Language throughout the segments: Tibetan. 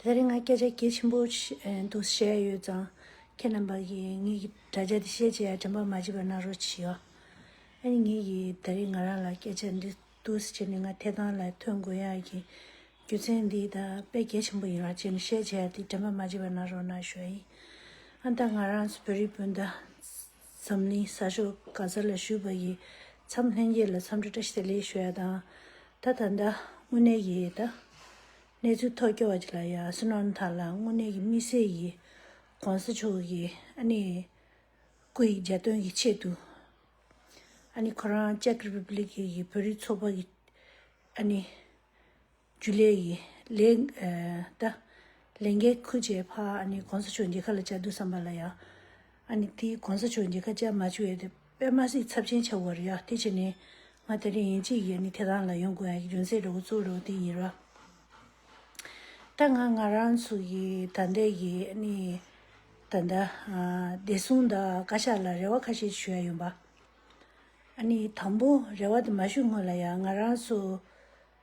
དེ་རིང་ང་སྐད་ཆ་གལ་ཆེན་པོ་འདུག་བཤད་ཡོད་ཙང་ཁྱེད་རྣམས་པ་གིས་ངེད་ཀྱི་དྲ་རྒྱ་འདི་ཤེས་བྱས་ཡ་དྲན་པ་མ་བྱེད་པ་གནང་རོགས་བྱོས། ཨ་ནི་ངེད་ཀྱིས་ད་རེས་ང་རང་ལ་སྐད་ཆ་འདི་འདུག་ཟེར་ནས་ང་ཐད་དང་ལས་ཐོན་དགོས་ཡག་གི་རྒྱུ་མཚན་འདི་ད་དཔེ་གལ་ཆེན་པོ་ཡིན་རོགས་བྱས་ནས་ཤེས་བྱས་ཡ་འདི་དྲན་པ་མ་བྱེད་པ་གནང་རོགས་གནང་ཞོའི། ཨ་ད་ང་རང་ཚོ་བོད་རིགས་སྤུན་ཟླ། འཛམ་གླིང་གསར་ཤོག་ག་གསར་ལ་ཞུས་པ་ཡི་མཚམས་ལྷན་རྒྱས་ལ་འཚམས་འདྲི་བཀྲ་ཤིས་བདེ་ལེགས་ཞུ་ཡ་དང། ད་ད་ད་དངོས་གནས་ཡི་ད། གནས་ཚུལ་ཐོག་སྐྱོ་བ་ཅིག་ལ་ཡ་སི་ནོར་ནཐ་ལ་དངོས་གནས་ཀྱི་དམིགས་བསལ་ཡི་གོང་ས་མཆོག་གི་ཨ་ནི་སྐུ་ཡི་འཇའ་སྟོན་གྱི་ཆེད་དུ། ཨ་ནི་ཁོ་རང་ཅཀ་རི་པི་པི་ལི་ཀི་ཡི་བོད་རིགས་ཚོགས་པ་གི་ཨ་ནི་རྒྱུ་ལས་ཡིན། ལེགས། ད། ལན། གེ་ཁུ་བྱས་ཕ་ཨ་ནི་གོང་ས་མཆོག་འདི་ཁ་ལ་བཅའ་འདུག་བསམ་པ་ལ་ཡ། ཨ་ནི་དེ་གོང་ས་མཆོག་འདི་ཁ་བཅའ་མ་བྱུ་ཡ་དེ་པད་མ་སྲིད་ཚབ་ཆེན་ཆ་བོར་ཡ་དེ་ཆེ་ནི། ང་ད་རིང་ཡིན་གཅིག་ཡ་ནི་དེ་རང་ལ་ཡོང་དགོས་ཡ་རྒྱུ་མཚན་རེ་བོ་གཙོ་བོ་རེ་བོ་དེ་ཡིན་ར། ད་ང་ང་རང་ཚུ་ཡི་ད་ད་ཡི་ཨ་ནི། ད་ད། བདེ་སྲུང་ད་བཀའ་ཤག་ལ་རེ་བ་ཁ་ཤས་ཞུ་ཡ་ཡོང་པ། ཨ་ནི་དང་པོ་རེ་བ་དེ་མ་ཞུ་སྔོན་ལ་ཡ་ང་རང་ཚུ།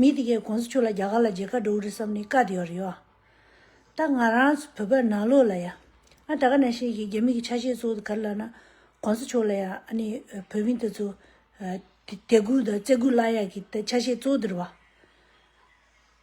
མི་དེ་གས་གོང་ས་མཆོག་ལ་རྒྱ་གར་ལ་རྗེ་ཁ་འགྲོ་གི་རེད་བསམ་ནས་བཀའ་དེ་ཡོད་རེད་ཡོད་ཨ། ད་ང་རང་བོད་པའི་ནང་ལོག་ལ་ཡ། ཨ་ད་ག་ནས་ཤེས་ཀྱི་རྒྱ་མི་གི་ཆ་ཤས་ཚོ་ག་རེ་ལབ་ན། གོང་ས་མཆོག་ལ་ཡ་ཨ་ནི་བོད་མི་དེ་ཚོ། དད་གུས་དང་བརྩེ་གུས་བླ་ཡག་གི་ཆ་ཤས་ཚོ་དེ་རེད་བ།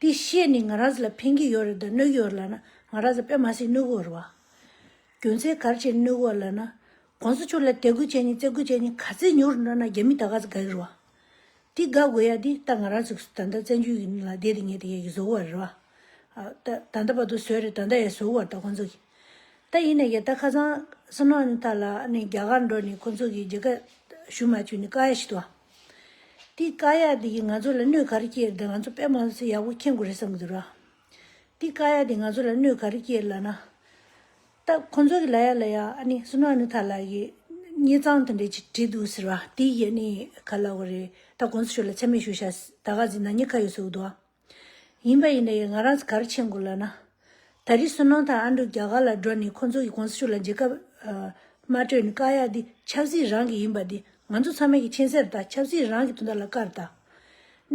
དེ་བཤད་ནས་ང་རང་ཚོ་ལ་ཕན་གྱི་ཡོད་རེད་དོ་གནོད་གི་ཡོད་ལབ་ན་ང་རང་ཚོ་དཔེ་མ་སྲིད་གནོད་གི་ཡོད་རེད་བ། རྒྱུ་མཚན་གར་བྱས་གནོད་གི་ཡོད་ལབ་ན། གོང་ས་མཆོག་ལ་དད་གུས་བྱས་ནས་བརྩེ་གུས་བྱས་ནས་ག་ཚད་ཉོ་རུ་འགྲོ་ན་རྒྱ་མི་ད་ག་ཚོད་དགའ་གི་རེད་བ། དེ་དགའ་དགོས་ཡ་དེ་ད་ང་རང་ཚོ་ད་ལྟ་བཙན་བྱོལ་གྱི་ལ་བསྡད་དེ་ངས་དེ་ཡ་གི་བཟོ་གི་བ་རེད་བ། ད་ལྟ་བར་དུ་བཟོས་རེད་ད་ལྟ་ཡ་བཟོ་གི་བ་རེད་ད་ཁོང་ཚོ་གིས། ད་ཡིན་ན་ཡ་ད་ཁ་སང་སུན་ཧ་ནི་ཐ་ལ་ནས་རྒྱ་གར་འགྲོ་ནས་ཁོང་ཚོ་གིས་རྒྱལ་ཁ་ཞུ་མ་བཅུག་ནས་དཀའ་ཡ་བྱེད་དོ་བ། འདི་ཀ་ཡ་འདི་ཡིས་ང་ཚོ་ལ་གནོད་ག་རེ་སྐྱེལ་ཏེ་ང་ཚོ་པད་མ་ལ་སོ་ཡག་པོ་འཁྱེར་དགོས་རེད་བསམ་གི་འདུག་ར། འདི་ཀ་ཡ་འདི་ང་ཚོ་ལ་གནོད་ག་རེ་སྐྱེལ་ལ་ན། ད་ཁོང་ཚོ་གི་ལ་ཡ་ལ་ཡ་ཨ་ནི་སུ་ནག་ནི་ཐ་ལ་གི་ཉེ་གཙང་དེ་འདྲས་ཅིག་བྲིས་འདུག་ཟེར་བ་དེ་ཡི་ཨ་ནི་ག་ལ་བ་རེད་ད་གོང་ས་མཆོག་ལ་ཆ་མེད་ཞུ་ཤ་ཟེར་ད་ག་ཟེ་ན་ཉེ་ཁ་ཡོད་ཟེར་འུ་འདུག་ཨ། ཡིན་པ་ཡིན་ཡང་ང་རང་གར་ཆེན་དགོས་ལགས་ན། ད་རེས་སུན་སྣང་དང་ཨ་འབྲུག་རྒྱ་གར་ལ་འགྲོ་ནས་ཁོང་ཚོ་གི་གོང་ས་མཆོག་ལ་མཇལ་ཁ་མ་སྤྲོད་ནས་བཀག་ཡག་འདི་ཆབ་སྲིད་རང་གི་ཡིན་པ་འདི་ང་ཚོ་ཚང་མའི་གི་མཁྱེན་གསལ་རེད་ད་ཆབ་སྲིད་རང་གི་དོན་དག་ལ་བཀར་ད།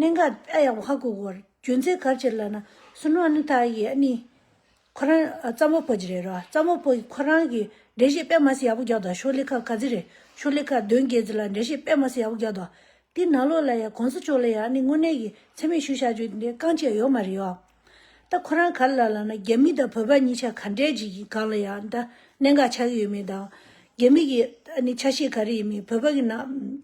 གནད་འགག་ཨ་ཡག་པོ་ཧ་གོ་དགོས། རྒྱུ་མཚན་གར་བྱེད་ལགས་ན་སུན་སྣང་ནི་ད་ཡེ་ཨ་ནི། ཁོ་རང་རྩ་མོ་པོ་ཅི་རེད་རོ་རྩ་མོ་པོ་ཁོ་རང་གི་འགྲེལ་བཤད་དཔེ་མ་སི་ཡག་པོ་རྒྱག་དོ་ཤོ་ལི་ཁ་ག་ཟི་རེད་ཤོ་ལི་ཁ་གདོན་རྒྱལ་ཟི་ལ་འགྲེལ་བཤད་དཔེ་མ་སི་ཡག་པོ་རྒྱག་དོ་དེ་ནག་ལོ་ལ་ཡང་གོང་ས་མཆོག་ལ་ཡང་ནི་དངོས་གནས་ཀྱི་འཚེ་མེད་ཞུ་བཞག་ཅུ་དེ་རྐང་བཅད་ཡོད་མ་རེད་ཡོ་ད་ཁོ་རང་ག་ལ་ལ་ལ་ན་རྒྱ་མི་དང་བོད་པ་གཉིས་ཆ་ག་འདྲའི་ཅིག་གི་སྒང་ལ་ཡང་ད་གནད་འགག་ཆགས་ཀྱི་ཡོད་མེད་དང་རྒྱ་མི་གི་ནི་ཆ་ཤས་ག་རེ་ཡིན་མིན་བོད་པ་གི་ནང།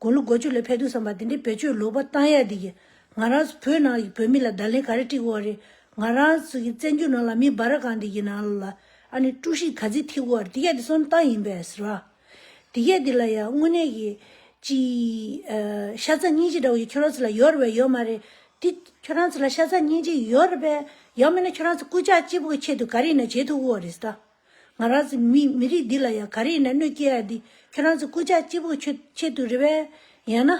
དགུང་ལོ་གོ་བཅུ་ལས་ཕེབས་འདུག་བསམ་པ་དེ་འདྲའི་བེད་སྤྱོད་ལོག་པ་བཏང་ཡག་འདི་ཀྱི། ང་རང་ཚོ་བོད་ནང་གི་བོད་མི་ལ་བརྡ་ལན་ག་རེ་སྤྲིགས་དགོས་བ་རེད། ང་རང་ཚོ་གི་བཙན་བྱོལ་ནང་ལ་མི་སྦ་ར་གང་འདི་ཀྱི་ནང་ལ་ཨ་ནི་དཀྲུགས་ཤིང་ག་ཚིག་ཐེབས་དགོས་བ་རེད་འདི་ཀྱ་འདི་སོམ་སྟངས་ཡིན་པས་ར། འདི་ཀྱ་འདི་ལ་ཡང་དངོས་གནས་ཀྱི། ཅི། ཤ་ཚ་སྙིང་རྗེ་འདྲ་བ་ཡོད་ཁྱོད་རང་ཚོ་ལ་ཡོད་རེད་བས་ཡོད་མ་རེད། འདི་ཁྱོད་རང་ཚོ་ལ་ཤ་ཚ་སྙིང་རྗེ་ཡོད་རེད་བས་ཡང་མེད་ན་ཁྱོད་རང་ཚོ་སྐུ་ཕྱག་སྤྱི་བོ་གི་ཆེད་དུ་ག་རེ་ཡིན་ན་བྱེད་ཐུབ་དགོས་བ་རེད་ཟེ་ད། ང་རང་ཚོའི་མི་རིགས་འདི་ལ་ཡང་ག་རེ་ཡིན་ན་གནོད་སྐྱེལ་ཡ་འདི་ཁྱོད་རང་ཚོ་སྐུ་ཅག་སྐྱིད་པོ་ཆེད་དུ་རེད་བས། ཡང་ན།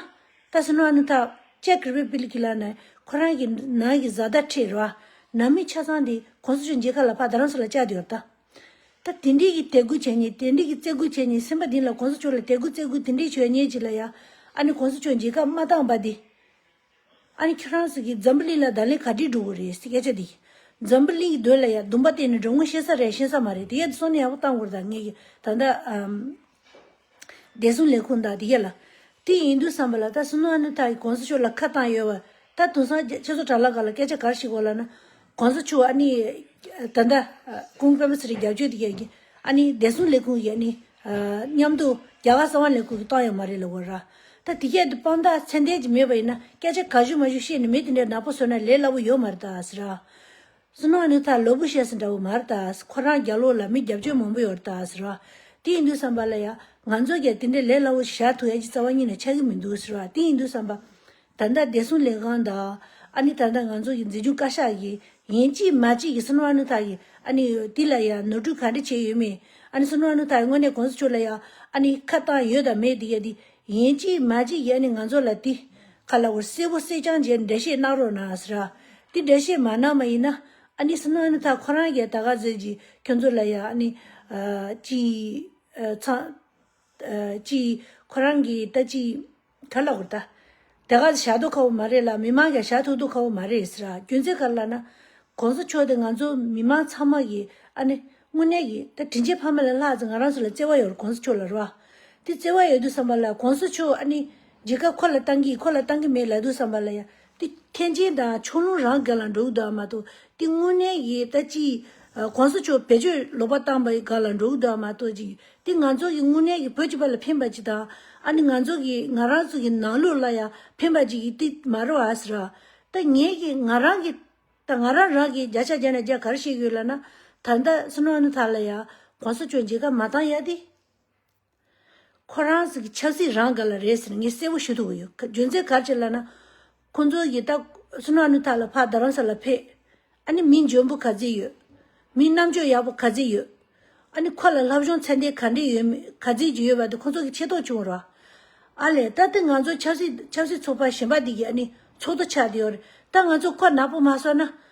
ད་སི་ནོ་ཨ་ནུ་ཐ། ཅེ་ཀི་རི་པིལ་གི་ལ་ནས་ཁོ་རང་གི་ནང་གི་བཟའ་ཟླ་ཁྲི་ར། ནང་མི་ཆ་ཚང་འདི་གོང་ས་མཆོག་མཇལ་ཁ་ལ་ཕ་ད་རང་ཚོ་ལ་བཅར་ཡོད་ད། ད་དེ་འདྲི་གི་དད་གུས་བྱས་ཉེས་དེ་འདྲི་གི་བརྩེ་གུས་བྱས་ཉེས་སེམས་པ་འདི་ལ་གོང་ས་མཆོག་ལ་དད་གུས་བརྩེ་གུས་དེ་འདྲི་བྱོས་ཉེས་ཅི་ལ་ཡ། ཨ་ནི་གོང་ས་མཆོག་མཇལ་ཁ་མ་བཏང་བ་འདི། ཨ་ནི་ཁྱོད་རང་ཟེར་གི་འཛམ་བུ་གླིང་ལ་བདག་ལས་ག་དྲིས་འགྲོ་གི་རེད་སྐད་ཆ་འདི། འཛམ་བུ་གླིང་གི་དོན་ལ་ཡ་བདུན་པ་བསྟན་ནས་འགྲོ་དངོས་ཤེས་ས་རེད་ཤེས་ས་མ་རེད་དེ་གས་ད་སོ་ནས་ཡག་པོ་བཏང་དགོས་རེད་ད་ངས་ཀྱི་ད་ལྟ། བདེ་སྲུང་ལས་ཁུངས་དང་དེ་གས་ལ། དེ་ཡིན་དུས་བསམ་པ་ལ་ད་སོ་ནུ་ཨ་ནི་ཐ་གི་གོང་ས་མཆོག་ལ་ཁ་བཏང་ཡོད་བ། ད་དུང་སང་རྒྱ་ཁྱེད་ཚོ་དྲ་ལ་ག་ལ་སྐད་ཆ་གར་ཞིག་གོ་ལ་ན། གོང་ས་མཆོག་ཨ་ནི། ད་ད། ཀུང་བོད་པ་ཚོ་རིགས་རྒྱབ་སྐྱོར་དེ་གས་ཀྱི། ཨ་ནི་བདེ་སྲུང་ལས་ཁུངས་ཀྱི་ཨ་ནི། མཉམ་དུ་རྒྱ་གར་གསང་བ་ལས་ཁུར་གྱི་བཏང་ཡོད་མ་རེད་ལ་འོ་ར། ད་དེ་སྐད་དུ་དཔང་རྟགས་མཚན་ལྡན་གྱི་མེད་པ་ཡིན་ན་སྐད་ཆ་ག་ཞུ་མ་ཞུ་བཤད་ནས་མི་དེ་འདྲའི་ནག་པོ་བཟོ་ན་ལས་སླ་པོ་ཡོད་མ་རེད་ད་ཟེར། སུ་ནང་ནས་ཐར་ལོ་བུ་བཤད་ཟིན་འདྲ་བོ་མ་རེད་ད་ཁོ་རང་རྒྱ་ལོ་ལ་མི་རྒྱབ་སྐྱོར་མང་པོ་ཡོད་རེད་ད་ཟེར། དེ་ཡིན་དུས་བསམ་པ་ལ་ཡ། ང་ཚོ་རྒྱ་དེ་འདྲའི་ལས་སླ་བོ་ཞིག་བཞག་ཐུག་ཡ་གྱི་རྩ་བ་གཉིས་ནས་ཆགས་ཀྱི་མི་འདུག་ཟེར། དེ་ཡིན་དུས་བསམ་པ། ད་ལྟ་བདེ་སྲུང་ལས་ཁང་དང། ཨ་ནི་ད་ལྟ་ང་ཚོ་ཡི་འཛིན་སྐྱོང་བཀའ་ཤག་གིས་ཡན་ཅིག་མ་ཅིག་གི་སུན་ཝང་ནུ་ཐ་ཡི་ཨ་ནི་དེ་ལ་ཡང་ནོར་འཁྲུལ་ག་འདྲི་བྱས་ཡོད་མེད་ཨ་ནི་སུན་ཝང་ནུ་ཐ་ཡི་དངོས་གནས་གོང་ས་མཆོག་ལ་ཡང་ཨ་ནི་ཁ་བཏང་ཡོད་དང་མེད་དེ་ཡ་དེ་ཡན་ཅིག་མ་ཅིག་གི་ཨ་ནི་ང་ཚོ་ལ་དེ་ག་ལ་བོར་གསལ་བོ་གསལ་རྐྱང་བྱས་འགྲེལ་བཤད་གནང་རོགས་གནང་ཟེར། དེ་འགྲེལ་བཤད་མ་གནང་མ་ཡིན་ན་ཨ་ནི་སུན་ཝང་ནུ་ཐ་ཁོ་རང་གས་ད་ག་ཟེར་གྱི་ཁྱོད་ཚོ་ལ་ཡང་ཨ་ནི་ཅིག་ཚང། ཅིག་ཁོ་རང་གིས་ད་ཅིག། གྲ་ལ་ཧུར་ཐ། དེ་ག་ཞག་སྡོད་ཁ་བོ་མ་རེད་ལ་མི་མང་ག་ཞག་ཐུག་སྡོད་ཁ་བོ་མ་རེད་ཟེར་ཨ་རྒྱུ་མཚན་ག་རེ་ལ་ན། གོང་ས་མཆོག་དེ་ང་ཚོ་མི་མང་ཚང་མ་གི་ཨ་ནི་དངོས་གནས་གི་ད་དྲིན་ཆེན་ཕ་མ་ལ་ལྷག་ཙེ་ང་རང་ཚོ་ལ་བརྩེ་བ་ཡོད་རུ་གོང་ས་མཆོག་ལ་རུ་ཨ། དེ་བརྩེ་བ་ཡོད་དུ་བསམ་པ་ལ་གོང་ས་མཆོག་ཨ་ནི་རྗེ་ཁ་ཁོ་ལ་བཏང་གི་ཁོ་ལ་བཏང་གི་མེད་ལ་དུ་བསམ་པ་ལ་ཡ་ཏེ། ཐེག་ཆེན་དང་ཕྱོགས་ལྷུང་རང་འགལ་ལ་འགྲོ་འུ་དག་མ་ཏོ་ཏེ། དངོས་གནས་ཀྱི་ལྟ་ཅི། གོང་ས་མཆོག་བེད་སྤྱོད་ལོག་པར་བཏང་བའི་འགལ་ལ་འགྲོ་འུ་དག་མ་ཏོ་ཅི། ཏེ་ང་ཚོ་གི་དངོས་གནས་ཀྱི་བོད་ཀྱི་བར་ལ་ཕན་པ་ཅི་དང། ཨ་ནི་ང་ཚོ་གི་ང་རང་ཚོ་གི་ནང་ལུགས་ལ་ཡང་ཕན་པ་ཅི་ཡི་ཏེ་མ་རོ་ཨཱས་ར། ཏེ་ངེད་ཀྱི་ང་རང་གི། ད་ང་རང་རང་གི་བརྒྱ་ཆ་བརྒྱ་ནས་བརྒྱ་གར་བཤད་ཡོད་ལ་ན། ད་ད་སུ་ནོ་ཨ་ནི་ད་ལ་ཡ། གོང་ས་མཆོག་མཇལ་ཁ་མ་བཏང་ཡ་ཏེ། ཁོ་རང་ཚོའི་ཆབ་སྲིད་རང་འགལ་ལ་རེད་ཟེར་ངས་གསལ་བོ་ཞུ་ཐུབ་ཀྱི་ཡོད། རྒྱུ་མཚན་ག་ཅིག་ལ་ན། ཁོང་ཚོ་ཡི་ད། སུ་ན་ནུ་ཐ་ལ་ཕག་རྡ་རམ་ས་ལ་ཕེབས། ཨ་ནི་མི་འཇོན་པོ་ག་ཚིག་ཡོད། མི་རྣམ་དཔྱོད་ཡག་པོ་ག་ཚིག་ཡོད། ཨ་ནི་ཁོ་ལ་ལྷ་བཞོན་ཚད་འདས་ག་འདྲས་ཡོད་མེད་ག་ཚིག་ཅིག་ཡོད་པ་དེ་ཁོང་ཚོ་གི་ཆེ་ཐོག་ཆུང་ར། ཨ་ལས། ད་ཏི་ང་ཚོ་ཆབ་སྲིད་ཆབ་སྲིད་ཚོགས་པ་གཞན་པ་འདི་གི་ཨ་ནི་ཚོགས་འདུ་ཆགས་འདི་ཡོད་རེད། ད་ང་ཚོ་ཁོ་ནག་པོ་མ་བསོད་ན།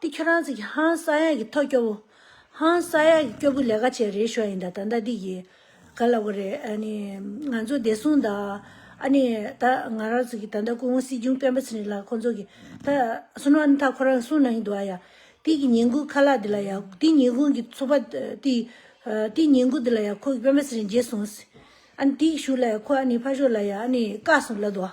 འདི་ཁྱོད་རང་ཚིག་གི་ཧང་ས་ཡག་གི་ཐོག་སྐྱོ་བོ། ཧང་ས་ཡག་གི་སྐྱོ་བོ་ལས་ཀ་བྱས་རེད་ཤོག་ཡིན་ད་ད་ད་འདི་ཡི། ག་ལ་བ་རེད་ཨ་ནི། ང་ཚོ་བདེ་སྲུང་དང། ཨ་ནི་ད་ང་རང་ཚོ་གི་ད་ད་ཀུན་སྲིད་ཅུང་སྤེན་པ་ཚིག་རིག་ལགས་ཁོང་ཚོ་གི། ད་སུན་ཨ་ནི་ད་ཁོ་རང་སུན་ན་ཡིན་འདུག་ཨ་ཡ། འདི་གི་ཉིན་གུང་ཁ་ལག་འདི་ལ་ཡ། འདི་ཉིན་གུང་གི་ཚོགས་པ་འདི། འདི་ཉིན་གུང་འདི་ལ་ཡ་ཁོ་གི་སྤེན་པ་ཚིག་རིག་མཇེ་སོང། ཨ་ནི་འདི་གི་ཞུ་ལ་ཡ་ཁོ་ཨ་ནི་ཕ་ཤོག་ལ་ཡ་ཨ་ནི་ཀ་སོང་ལ་འདུག་ཨ།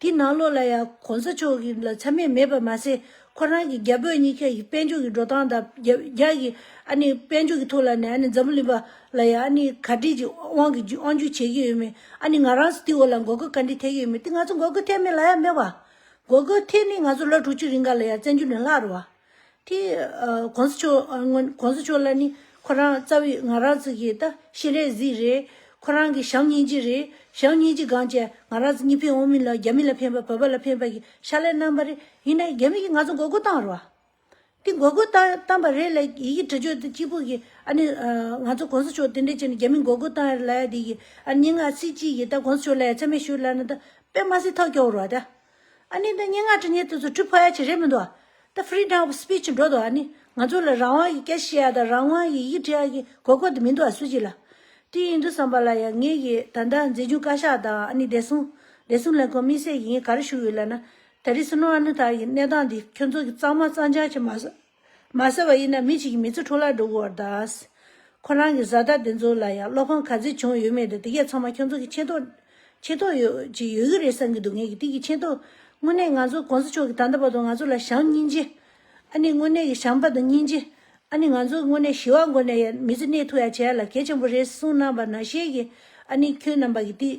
དེའི་ནང་ལོགས་ལ་ཡང་གོང་ས་མཆོག་གི་ལ་ཆ་མེད་མེད་པར་མ་ཟད་ཁོ་རང་གི་རྒྱ་བོད་གཉིས་ཀའི་དཔལ་འབྱོར་གྱི་འགྲོ་སྟངས་དང་རྒྱ་ཡི་ཨ་ནི་དཔལ་འབྱོར་གྱི་ཐོག་ལ་ནས་ཨ་ནི་འཛམ་བུ་གླིང་པ་ལ་ཡང་ཨ་ནི་ག་དྲིས་ཀྱི་དབང་གི་དབང་བསྒྱུར་བྱེད་ཀྱི་ཡོད་མེད་ཨ་ནི་ང་རང་ཚོ་དེའི་འོག་ལ་འགོག་རྒོལ་ག་འདྲི་ཐེབས་ཀྱི་ཡོད་མེད་དེ་ང་ཚོ་འགོག་རྒོལ་ཐེབས་མེད་ལ་ཡ་མེད་བ། འགོག་རྒོལ་ཐེབས་ནི་ང་ཚོ་ལོ་དྲུག་ཅུ་རིང་ག་ལ་ཡ་བཙན་བྱོལ་ནས་ལྷག་རུ་བ། དེ་གོང་ས་མཆོག་ལ་ནི་ཁོ་རང་རྩ་བའི་ང་རག་རྩི་གི་ད་ཤེས་རས་གཟིགས་རེད། ཁོ་རང་གི་ཞང་གཉིས་ཀྱི་རེད། ཞང་གཉིས་ཀྱི་སྒང་བཅས་ང་རག་རྩི་གཉིས་ཕན་འོང་མིན་ལ་རྒྱ་མི་ལ་ཕན་པ་བོད་པ་ལ་ཕན་པ་གི་ཤ་ལས་རྣམ་པ་རེད་ཡིན་ན་རྒྱ་མི་གི་ང་ཚོ་མགོ་སྒུར་བཏང་རོགས། དེ་མགོ་སྒུར་བཏང་པ་རེད་ལ་ཡི་གི་དྲི་ཆོས་དེ་གཅིག་པུ་གི་ཨ་ནི་ང་ཚོ་གོང་ས་མཆོག་དེ་འདྲས་བྱས་ནི་རྒྱ་མི་མགོ་སྒུར་བཏང་ཡར་ལ་ཡ་དེ་གི་ཨ་ནི་སྙིང་ངག་ཚིག་གཅིག་གི་ད་གོང་ས་མཆོག་ལ་ཡ་ཚད་མེད་ཞུ་ལ་ན་ད་པད་མ་སི་ཐག་སྐྱོ་བོ་རོགས་ད། ཨ་ནི་འདི་སྙན་ངག་ཁྲི་སྙན་དུ་ཚུར་འཁྲུལ་ཕོག་ཡ་ཆེ་རེད་མི་འདུག་ད Freedom of Speech འགྲོ་འདུག་ཨ་ནི་ང་ཚོ་ལ་རང་དབང་གི་སྐད་བཤད་ཡ་དང་རང་དབང་གི་ཡིག་འབྲི་ཡ་གི་གོ་སྐོ་དེ་མི་འདུག་ཨ་སུ་གཅིག་ལ་དེ་ཡིན་འདུག་བསམ་པ་ལ་ཡ་ངེད་ཀྱི་ད་ལྟ་མཛེས་ཆུང་བཀའ་ཤག་དང་ཨ་ནི་བདེ་སྲུང་བདེ་སྲུང་ལས་ཁུངས་དམིགས་བསལ་གྱི་ངས་ག་རེ་ཞུ་ཡོད་ལ་ན་ད་རི་སུ་ནོར་ཨ་ནུ་ཐར་གྱི་གནས་སྟངས་འདི་ཁྱོད་ཚོ་གི་གཙང་མ་གཙང་ཆག་ཆེ་མ་སོང། མ་ཟེར་བ་ཡིན་ན་མི་གཅིག་མི་ཚེ་འཕྲོ་བརླག་འགྲོ་གི་བར་གདའ། ཁོ་རང་གི་བཟའ་ཟླ་དེ་ཚོ་ལ་ཡང་བློ་ཕམ་ག་ཚོད་བྱུང་ཡོད་མེད་དང་དེ་གས་ཚང་མ་ཁྱོད་ཚོ་གི་ཆེ་མདོག། ཆེ་མདོག། ཅིག་ཡོད་ཀྱི་རེད་བསམ་གྱི་འདུག་ངེད་ཀྱི་ཏིག་གི་ཆེ་མདོག། དངོས་གནས་ང་ཚོ་གོང་ས་མཆོག་གི་ད་ལྟ་བར་དུ་ང་ཚོ་ལ་བྱམས་སྙིང་རྗེ། ཨ་ནི་དངོས་གནས་ཀྱི་བྱམས་པ་དང་སྙིང་རྗེ། ཨ་ནི་ང་ཚོ་དངོས་གནས་ཞི་བ་འགོ་ནས་ཡང་མི་ཚེ་གནས་ཐུག་ཡ་བྱས་ཡ་ལ་གལ་ཆེན་པོ་རེད་གསུངས་གནང་བ་ནང་བཤད་ཀྱི་ཨ་ནི་ཁྱོད་རྣམས་པ་གི་ཏིག།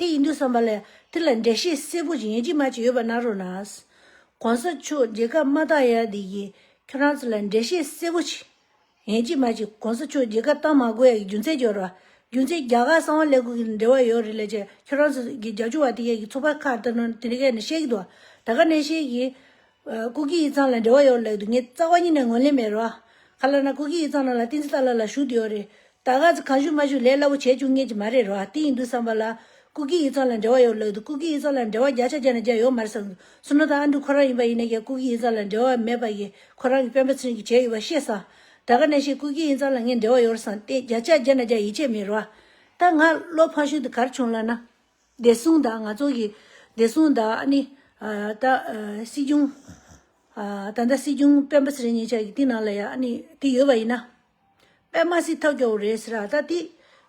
དེ་ཡིན་དུས་བསམ་པ་ལ་ཏིར་ལ་འདྲེ་ཤེས་སེར་པོ་ཅིག་ཡན་ཅིག་མ་ཅིག་ཡོད་པ་ན་རོ་ན། གོང་ས་མཆོག་མཇལ་ཁ་མ་བཏང་ཡ་དེ་ཡིས་ཁྱོད་རང་ཚོ་ལ་འདྲེ་ཤེས་སེར་པོ་ཅིག་ཡན་ཅིག་མ་ཅིག་གོང་ས་མཆོག་མཇལ་ཁ་བཏང་མ་དགོས་ཡ་གི་རྒྱུ་མཚན་ཅི་རོ། རྒྱུ་མཚན་རྒྱ་གར་གསང་བ་ལས་ཁུངས་ཀྱི་འབྲེལ་བ་ཡོད་རེད་ལས་ཀྱི་ཁྱོད་རང་ཚོ་གི་རྒྱ་ཆུང་བ་དེ་ཡ་གི་ཚོ་པ་ཁ་བཏགས་ནོ་དེ་ག་ནས་བཤད་ཀྱི་འདུག་ད་ག་ནས་བཤད་ཀྱི། སྐུ་སྐྱེ་ཡིག་ཚང་ལ་འབྲེལ་བ་ཡོད་ལགས་འདུག་ངས་རྩ་བ་ཉིད་ནས་ངོས་ལེན་མེད་རོ། ག་ལ་ན་སྐུ་སྐྱེ་ཡིག་ཚང་ནང་ལ་ཏིང་ཙི་ཏཱ་ལ་ལ་ཞུགས་འདི་ཡོད་རེད། ད་ག་ཚོད་གང་ཞུགས་མ་ཞུགས་ལས་སླ་བོ་བྱས་བཅུག་ངེས་ཀྱི་མ་རེད་རོ། དེ་ཡིན་དུས་བསམ་པ་ལ། སྐུ་སྐྱེ་ཡིག་ཚང་ལ་འབྲེལ་བ་ཡོད་ལགས་འདུག་སྐུ་སྐྱེ་ཡིག་ཚང་ལ་འབྲེལ་བ་བརྒྱ་ཆ་བརྒྱ་ནས་བརྒྱ་ཡོད་མ་རེད་བསམ་འདུག་སུ་ནོ་ད་ཨ་འབྲུག་ཁོ་རང་ཡིན་པ་ཡིན་ནའི་ཀྱང་སྐུ་སྐྱེ་ཡིག་ཚང་ལ་འབྲེལ་བ་མེད་པ་ཡིན་ཁོ་རང་གི་སྤེན་པ་ཚུན་གྱི་བྱས་ཡོད་པ་ཤེས་སམ། ད་ག་ནས་ཤེས་སྐུ་སྐྱེ་ཡིག་ཚང་ལ་ངས་འབྲེལ་བ་ཡོད་བསམ་སྟེ་བརྒྱ་ཆ་བརྒྱ་ནས་བརྒྱ་ཡིད་ཆེས་མེད་རོ། ད་ང་བློ་ཕངས་ཤུགས་དེ་གར་བྱུང་ལགས་ན། བདེ་སྲུང་དང་ང་ཚོ་གི་བདེ་སྲུང་དང་ཨ་ནི། ད། སྲིད་སྐྱོང། ད་ལྟ་སྲིད་སྐྱོང་སྤེན་པ་ཚེ་རིང་ཉེ་ཆར་གྱི་དེ་ནང་ལ་ཡ་ཨ་ནི་དེ་ཡོད་པ་ཡིན་ན། པད་མ་སྲིད་ཐབས་སྐྱོ་བོ་རེད་ཟེར་ར་ད་དེ།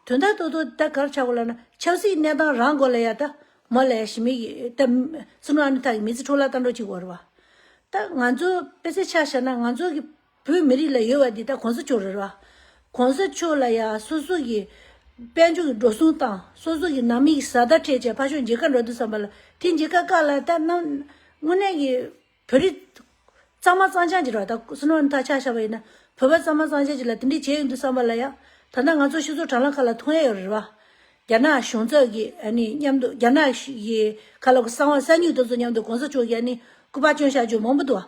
དོན་དག་ཏོ་ཏོ་ད་གར་ཆགས་གོ་ལ་ན་ཆབ་སྲིད་གནས་སྟངས་རང་གོ་ལ་ཡ་ད། མོ་ལ་ཡ་ཞི་མི་གི་ད། སྲིད་སྐྱོང་ཨ་ནི་ཐག་གི་མི་ཚེ་འཕྲོ་བརླག་ལྟ་འགྲོ་གཅིག་གོ་ར་བ། ད་ང་ཚོ་པད་ཚེ་ཆགས་ཤར་ན་ང་ཚོ་གི་བོད་མི་རིགས་ལ་ཡོད་པ་འདི་ད་གོང་ས་མཆོག་རེད་ར། གོང་ས་མཆོག་ལ་ཡ་སོ་སོ་གི་དཔལ་འབྱོར་གི་འགྲོ་སོང་དང་སོ་སོ་གི་ནང་མི་གི་བཟའ་ཟླ་འཕྲད་བྱས་ཕ་ཤོག་འཇིགས་ཀ་འགྲོ་འདུག་བསམ་པ་ལ་དེ་འཇིགས་ཀ་བཀག་ལ་ད་དངོས་གནས་གི་བོད་རིགས་གཙང་མ་གཙང་ཆགས་འགྱུར་བ་ད་སུ་ནོ་ནི་ད་ཆགས་ཤག་པ་ཡིན་ན་བོད་པ་གཙང་མ་གཙང་ཆགས་འགྱུར་ལ་དེ་འདྲས་བྱས་ཡོད་འདུག་བསམ་པ་ལ་ཡ་ད་ལྟ་ང་ཚོ་ཤི་ཚོ་དྲང་ལ་ཁ་ལ་ཐུག་ཡས་ཡོད་རེད་བ། རྒྱ་ནག་གཞུང་ཚབ་གི་ཨ་ནི་མཉམ་དུ་རྒྱ་ནག་གི་ཁ་ལ་གསང་བ་གསང་མྱུག་ཏུ་ཚོ་མཉམ་དུ་གོང་ས་མཆོག་གི་ཨ་ནི་སྐུ་པར་སྐྱོན་བཞག་རྒྱུ་མང་པོ་འདུག་བ།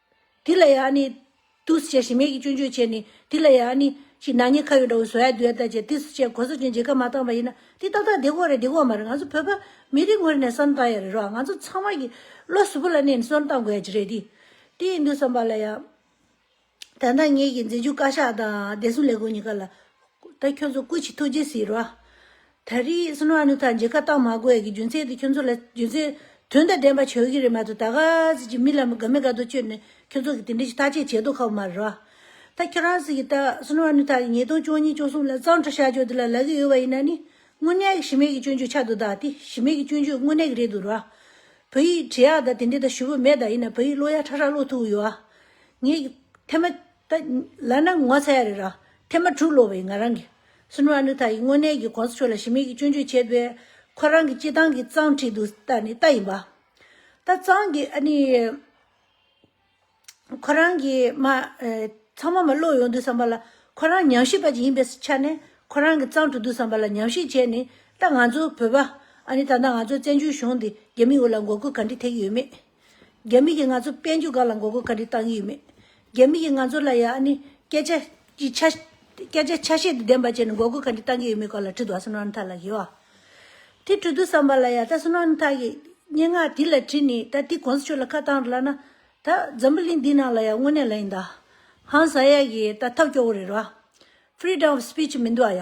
དེ་ལ་ཡང་ནི། དུས་བྱས་ཤིང་མེད་ཀྱི་སྐྱོན་བརྗོད་བྱས་ནས། དེ་ལ་ཡང་ནི། ཞེས་ནག་ཉེས་ཁ་ཡོད་འདྲ་བའི་བཟོ་ཡ་བསྡུ་ཡ་ལྟར་བྱས་དུས་བྱས་གོ་ས་སྐྱོན་བརྗོད་ཀ་མ་བཏང་བ་ཡིན་ན་དེ་ཏག་ཏག་འདི་ཁོ་རེད་འདི་ཁོ་མ་རེད་ང་ཚོ་བོད་པ་མི་རིགས་ངོས་ནས་བསམ་བཏང་ཡ་རེད་རོགས་ང་ཚོ་ཚང་མ་གྱི་བློ་གཟུ་བོ་ལ་གནས་ནས་བསམ་བཏང་དགོས་ཡ་གྱི་རེད་དེ་དེ་ཡིན་དུས་བསམ་པ་ལ་ཡང། ད་ནག་ཉེས་ཀྱི་འཛིན་བྱུས་བཀའ་ཤག་དང་བདེ་སྲུང་ལས་ཁུངས་གཉིས་ཀ་ལ། ད་ཁྱོད་ཚོ་སྐུ་ཆེ་ཐུགས་རྗེ་གཟིགས་རོགས། ད་རེས་སུ་ནོ་ཨ་ནུ་ཐ་འཇིག་ཁ་བཏགས་མ་དགོས་ཀྱི་རྒྱུ་མཚན་དེ་ཁྱོད་ཚོ་ལ་རྒྱུ་མཚན་དོན་དང་ལྡན་པ་བྱོས་ཀྱི་རེད་མ་གཏོགས་ད་ག་ཟེ་གྱི་མི་ལ་དགའ་མི་དགའ་དོ་བཅོས་ནས་ཁྱོད་ཚོ་གི་དེ་འདྲས་ཀྱི་ཐག་བཅད་བྱེད་དོ་ཁག་པོ་མ་རེད་བ། ད་ཁྱོད་རང་ཟེ་གྱི་ད་སུ་ནོ་ཨ་ནུ་ཐ་གི་ཉིས་སྟོང་བཅོ་གཉིས་བཅོ་གསུམ་ལ་གཙང་ཁྲ་བཤའ་བཅོས་དེ་ལ་ལ་གི་ཡོད་བ་ཡིན་ན་ནི་དངོས་གནས་གི་ཞི་མེད་གི་སྐྱོན་བརྗོད་ཆགས་འདུག་ད་དེ་ཞི་མེད་གི་སྐྱོན་བརྗོད་དངོས་གནས་གི་རེད་འདུག་ར། བོད་ཡིག་བྲི་ཡག་ད་དེ་འདྲས་ད་ཞུ་བོ་མེད་ད་ཡིན་ན་བོད་ཡིག་ཀློག་ཡག་ཁྲ་ཁྲ་ཀློག་ཐུབ་ཡོད་བ། ངས་ཀྱི་ཐེ་མ། ད་ལ་ན་ངོ་ཚ་ཡ་རེད་ར། ཐེངས་མ་དྲུག་ལོ་བའི་ང་རང་གིས། སུན་ཧྲ་ནུ་ཐ་ཡིས་དངོས་གནས་ཀྱི་གོང་ས་མཆོག་ལ་ཞི་མིག་གིས་སྐྱོན་བརྗོད་བྱས་པས། ཁོ་རང་གི་སྤྱི་བཏང་གི་གཙང་ཁྲིད་དུ་ད་ནི་ལྟ་ཡིན་པ། ད་གཙང་གི་ཨ་ནི། ཁོ་རང་གིས་མ། ཚང་མ་མ་ཀློག་ཡོང་དུས་བསམ་པ་ལ། ཁོ་རང་ཉམས་ཞིབ་པ་ཅིག་ཡིན་པའི་ཆ་ནས། ཁོ་རང་གི་གཙང་དྲུག་དུས་བསམ་པ་ལ་ཉམས་ཞིབ་བྱས་ནི། ད་ང་ཚོ་བོད་པ། ཨ་ནི་ད་ལྟ་ང་ཚོ་བཙན་བྱོལ་གཞུང་འདི་རྒྱ་མིའི་འོ་ལ་མགོ་སྐུར་ག་འདྲི་ཐེག་གི་ཡོད་མེད། རྒྱ་མི་གིས་ང་ཚོ་དཔལ་འབྱོར་འགའ་ལ་འགོག་རྒོལ་ག་རེ་བཏང་གི་ཡོད་མེད། རྒྱ་མི་གིས་ང་ཚོ་ལ་ཡང་ནི་སྐད་ཆ་གི་ཆ། སྐད་ཆ་ཆ་ཤས་དེ་བདེན་པ་བྱས་ནས་འགོག་རྒོལ་ག་རེ་བཏང་གི་ཡོད་མེད་སྐོར་ལ་དྲི་དུ་ཨ་སུན་ཝན་ཐ་ལགས་ཡོད་ཨ། དེ་དྲི་དུ་བསམ་པ་ལ་ཡང་ད་སུན་ཝན་ཐ་གིས་སྙན་ངག་དེ་ལ་དྲིས་ནས་ད་དེ་གོང་ས་མཆོག་ལ་ཁ་བཏང་རུ་ལ་ན། ད་འཛམ་བུ་གླིང་འདི་ནང་ལ་ཡང་དངོས་གནས་ལ་ཡིན་ད། ཧང་བཟའ་ཡ་གིས་ད་ཐབས་སྐྱོ་བོ་རེད་རུ་ཨ། Freedom of Speech མི་འདུག་ཨ་ཡ།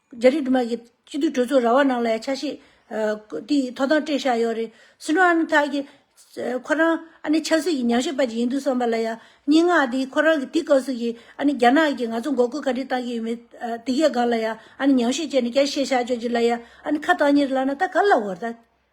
རྒྱ་རིགས་དུ་མ་གི་སྤྱི་འཐུས་གྲོས་ཚོགས་ར་བ་ནང་ལ་ཡང་ཆ་ཤས་དེ་ཐོག་ཐང་སྤྲད་བཞག་ཡོད་རེད། སི་ནོ་ཨ་མི་ཐག་གི་ཁོ་རང་ཨ་ནི་ཆབ་སྲིད་ཀྱི་ཉམས་ཞིབ་པ་ཅིག་ཡིན་འདུག་བསམ་པ་ལ་ཡང་སྙིང་ངག་དེ་ཁོ་རང་གི་དེ་སྐབས་སུ་ཡི་ཨ་ནི་རྒྱ་ནག་གི་ང་ཚོ་མགོ་སྐོར་ག་རེ་བཏང་གི་ཡོད་མེད་དེ་གའི་སྒང་ལ་ཡང་ཨ་ནི་ཉམས་ཞིབ་བྱས་ནས་བསྐྱར་བཤད་བཞག་ཆོག་ཅིག་ལ་ཡང་ཨ་ནི་ཁ་བཏང་ཉེར་ལགས་ན་ད་ག་ལ་འོར་ད།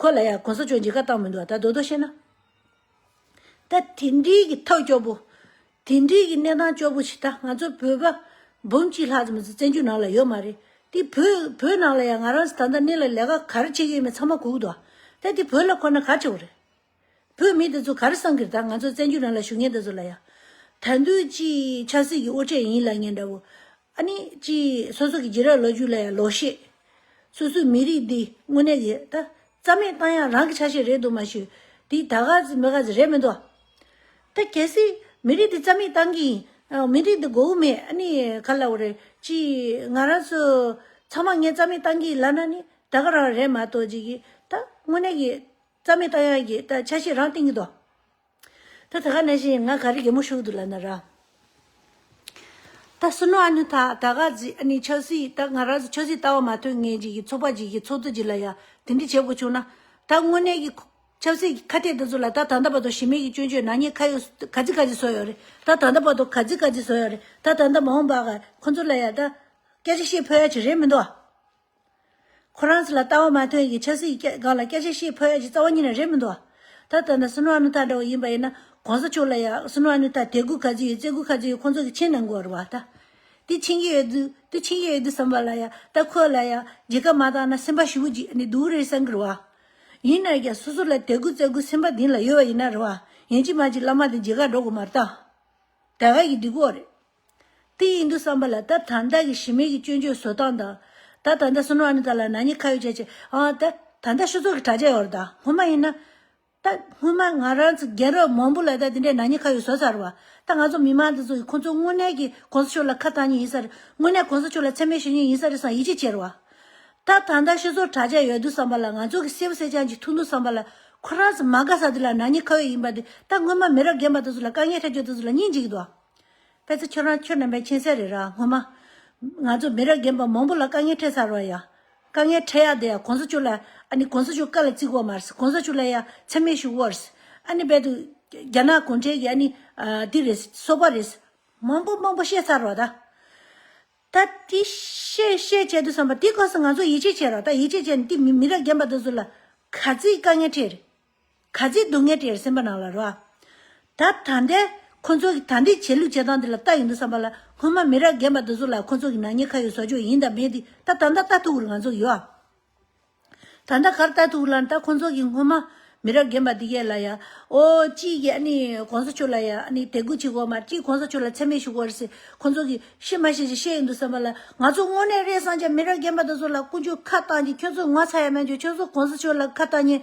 ཁོ་ལ་ཡང་གོང་ས་མཆོག་འཇིགས་སྐར་བཏང་མི་འདུག་བ་ད་རྡོ་རྡོ་བཤད་ན། ད་དེ་འདྲིའི་གི་ཐབས་སྐྱོ་པོ། དེ་འདྲིའི་གི་གནས་སྟངས་སྐྱོ་པོ་ཞིག་ད་ང་ཚོ་བོད་པ་འབུམ་གཅིག་ལྷག་ཙམ་བཙན་བྱོལ་ནང་ལ་ཡོད་མ་རེད། དེ་བོད་བོད་ནང་ལ་ཡང་ང་རང་ད་ལྟ་གནས་ལ་ལས་ཀ་ག་རེ་བྱེད་ཀྱི་ཡོད་མེད་ཚང་མ་གུག་འདུག་བ། ད་དེ་བོད་ལ་ཁོ་ན་ག་ཆེ་བོ་རེད། བོད་མི་འདི་ཚོ་གར་སངས་ཀིར་དང་ང་ཚོ་བཙན་བྱོལ་རང་ལ་ཞུ་ངན་འདི་ཚོ་ལ་ཡ། དར་མདུད་ཀྱིས་ཆབ་སྲིད་ཀྱི་དབུ་ཁྲེད་ཡིན་ལ་ངན་འདྲ་བོ། ཨ་ནི་ཀྱིས་སོ་སོ་ཀྱི་རྗེས་རབས་ལོ་རྒྱུས་ལ་ཡ་ལོག་ཤེས། སོ་སོའི་མི་རིགས་འདི་དངོས་གནས་ཀྱི་ད། རྩ་མེད་བཏང་ཡག་རང་གི་ཆ་ཤས་རེད་འདུག་མ་ཞུ། དེ་ད་ག་ཟི་མི་ག་ཟི་རེད་མི་འདུག། ད་གལ་སྲིད་མི་རིགས་འདི་རྩ་མེད་བཏང་གི་ཡིན། མི་རིགས་འདི་མགོ་བོ་མེད་ཨ་ནི་ག་ལ་བོ་རེད་ཀྱིས་ང་རང་ཚོ་ཚང་མ་ངས་རྩ་མེད་བཏང་གི་ཡིན་ལབ་ན་ནི་ད་ག་རང་རེད་མ་གཏོགས་ཀྱིས་ཀྱིས་ད་དངོས་གནས་ཀྱི། རྩ་མེད་རྟོགས་ཡ་ཡི། ཆ་ཤས་རང་སྟེང་གི་དོ། ད་ད་ག་གནས་ཤིང་ང་ག་རི་རྒྱལ་མོ་བཞུགས་འདུག་ལ་ན་ར། ད་སུ་ནུ་ཨ་ནུ་ད་ད་ག་ཟི་ཨ་ནི་ཆོས་སྲིད་ད་ང་ར་ཟི་ཆོས་སྲིད་ལྟ་བ་མ་ཐོན་ངེས་ཅིག་གི་ཚོགས་པ་ཅིག་གི་ཚོགས་གཙོ་ཅིག་ལ་ཡ་དེ་འདྲི་བྱེད་དགོས་བྱུང་ན། ད་དངོས་གནས་ཀྱི། ཆབ་སྲིད་ཀྱི་ཁ་གཏད་དེ་ཚོ་ལ་ད་ད་ད་བ་དོ་ཞི་མེད་ཀྱི་སྐྱོན་བརྗོད་ནག་ཉེས་ཁ་ཡོད་ག་ཟི་ག་ཟི་བཟོ་ཡོད་རེད་ད་ད་ད་བ་དོ་ག་ཟི་ག་ཟི་བཟོ་ཡོད་རེད་ད་ད་ད་མ་འོངས་པ་ག་ཁོ་ཚོ་ལ་ཡ་ད། སྐད་ཆ་བཤད་ཕོད་ཡ་ཆེ་རེད་མི་འདུག་ཨ། ཁོ་རང་ཚོ་ལ་ལྟ་བ་མ་ཐོན་གྱི་ཆབ་སྲིད་སྒང་ལ་སྐད་ཆ་བཤད་ཕོད་ཡ་ཀྱི་རྩ་བ་ཉིད་ནས་རེད་མི་འདུག་ད་ལྟ་ན་སུན་ཝ་ནུ་ཐ་འདྲ་བོ་ཡིན་པ་ཡིན་ན་གོང་ས་ཆོས་ལ་ཡ་སུན་ཝ་ནུ་ཐ་དད་གུ་ག་ཚོད་ཡོད་བརྩེ་གུ་ག་ཚོད་ཡོད་ཁོང་ཚོ་གི་ཆིན་ན་མགོ་རུ་བ་ད་དེ་ཆིན་གྱི་ཡོད་དུས་དུ་ཆིན་གྱི་ཡོད་དུས་བསམ་པ་ལ་ཡ་ད་ཁོ་ལ་ཡ་རྒྱལ་ཁབ་མ་བཏང་ན་སེམས་པ་ཞི་བོ་གྱིས་ནི་འདུག་རེད་བསམ་གི་རུ་བ་ཡིན་ན་ཀྱང་སོ་སོ་ལ་དད་གུ་བརྩེ་གུ་སེམས་པ་དིང་ལ་ཡོད་བ་ཡིན་ན་རུ་བ་ཡན་གྱི་མ་གྱི་བླ་མ་དང་རྒྱལ་ཁ་འགྲོ་གི་མ་རེད་ད་དད་ག་གྱི་འདི་གོ་རེད། དེ་ཡིན་དུ་བསམ་པ་ལ་ད་ད་ལྟ་གི་ཞི་མེད་ཀྱི་སྐྱོན་བརྗོད་བཟོ་སྟངས་དང། ད་ད་ལྟ་སུན་ཝར་ནི་ད་ལ་ན་ཉི་ཁ་ཡོད་ཅེས་བྱས། ཨང་ད་ད་ལྟ་ཤུ་ཚོགས་ཀྱི་དྲ་རྒྱ་ཡོད་རེད་ད། སྔོན་མ་ཡིན་ན། ད་སྔོན་མ་ང་རང་ཚོ་རྒན་རབས་མང་པོ་ལ་ད་དེ་འདྲའི་ན་ཉི་ཁ་ཡོད་བཟོ་ཚར་བ། ད་ང་ཚོ་མི་མང་འདི་ཚོ་ཡིས་ཁོང་ཚོ་དངོས་གནས་ཀྱི་གོང་ས་མཆོག་ལ་ཁ་བཏང་ཉིན་ཡིན་ས་རེད། དངོས་གནས་གོང་ས་མཆོག་ལ་མཚན་སྨད་ཞུ་ཉིན་ཡིན་ས་རེད་བསམ་ཡིད་ཆེས་ཆེ་རེད་བ། ད་ད་ལྟ་ཤུ་ཚོགས་དྲ་རྒྱ་ཡོད་དུ་བསམ་པ་ལ་ང་ཚོ་གི་སེ་བུ་སེ་ཅང་གཅིག་ཐུག་འདུག་བསམ་པ་ལ། ཁོ་རང་ཚོ་མ་དགའ་ས་དེ་ལ་ན་ཉི་ཁ་ཡོད་ཡིན་པ་དེ་ད་སྔོན་མ་མི་རབས་རྒན་པ་དེ་ཚོ་ལ་དཀའ་ངལ་འཕྲད་སྐྱོན་དེ་ཚོ་ལ་སྙིང་རྗེ་གི་འདུག་བ། དཔེ་ཚོ་ཁྱོད་རང་ཁྱོད་རྣམ་པའི་མཁྱེན་གསལ་རེད་ར་ངོ་མ། ང་ཚོ་མི་རབས་རྒན་པ་མང་པོ་ལ་དཀའ་ངལ་འཕྲད་ཚར་བ་ཡ། དཀའ་ངལ་འཕྲད་ཡག་དེ་ཡ་གོང་ས་མཆོག་ལ་ཨ་ནི་གོང་ས་མཆོག་བཀའ་ལ་བརྩི་དགོས་མ་རེད་གོང་ས་མཆོག་ལ་ཡ་འཚེ་མེད་ཞུ་དགོས་རེད། ཨ་ནི་རྦད་དུ་རྒྱ་ནག་གུང་ཁྲན་གྱི་ཨ་ནི་འདི་རེད་སོག་པ་རེད། མང་པོ་མང་པོ་བཤད་ཚར་བ་ད། ད་དེ་བཤད་བཤད་བྱས་དུས་བསམ་པ་དེ་ག་ས་ང་ཚོ་ཡིད་ཆེས་བྱེད་རོགས་ད་ཡིད་ཆེས་བྱས་ནས་དེ་མི་རབས་རྒན་པ་དེ་ཚོ་ལ་ག་ཚིག་དཀའ་ངལ་འཕྲད་རེད། ག་ཚིག་སྡུག་བསྔལ་བྲལ་སེམས་པ་ནང་ལ་རོ། ད་ད་འདས་ཁོ་ཚོ་གི་ད་འདས་བྱེད་ལུགས་བྱེད་སྟངས་འདི་ལ་ལྟ་ཡིན་འདུག་བསམ་པ་ལ་སྔོན་མ་མི་རབས་རྒན་པ་འདི་ཚོ་ལ་ཁོ་ཚོ་གི་ནག་ཉེས་ཁ་ཡོད་བཟོ་ཆོག་ཡིན་དང་མེད་འདི་ད་ད་འདའ་ལྟ་ཐུག་གུར་ང་ཚོ་གི་ཡོད། ད་འདའ་གར་ལྟ་ཐུག་གུར་ལ་ད་ཁོ་ཚོ་གི་སྔོན་མ་མི་རབས་རྒན་པ་འདི་གས་ལ་ཡ་ཨོ་ཅི་གི་ཨ་ནི་གོང་ས་མཆོག་ལ་ཡ་ཨ་ནི་དད་གུས་བྱེད་དགོས་མ་ཅི་གོང་ས་མཆོག་ལ་མཚན་སྨད་ཞུ་དགོས་རེད་ཁོ་ཚོ་གི་ཤེས་མ་ཤེས་ཅི་ཤེས་ཡིན་འདུག་བསམ་པ་ལ་ང་ཚོ་དངོས་གནས་རེད་སང་ཆ་མི་རབས་རྒན་པ་འདི་ཚོ་ལ་ཀུན་སྤྱོད་ཁ་བཏང་གི་ཁྱོད་ཚོ་ངོ་ཚ་ཡ་མེད་འགྱོ་ཁྱོད་ཚོ་གོང་ས་མཆོག་ལ་ཁ་བཏང་ཉེན།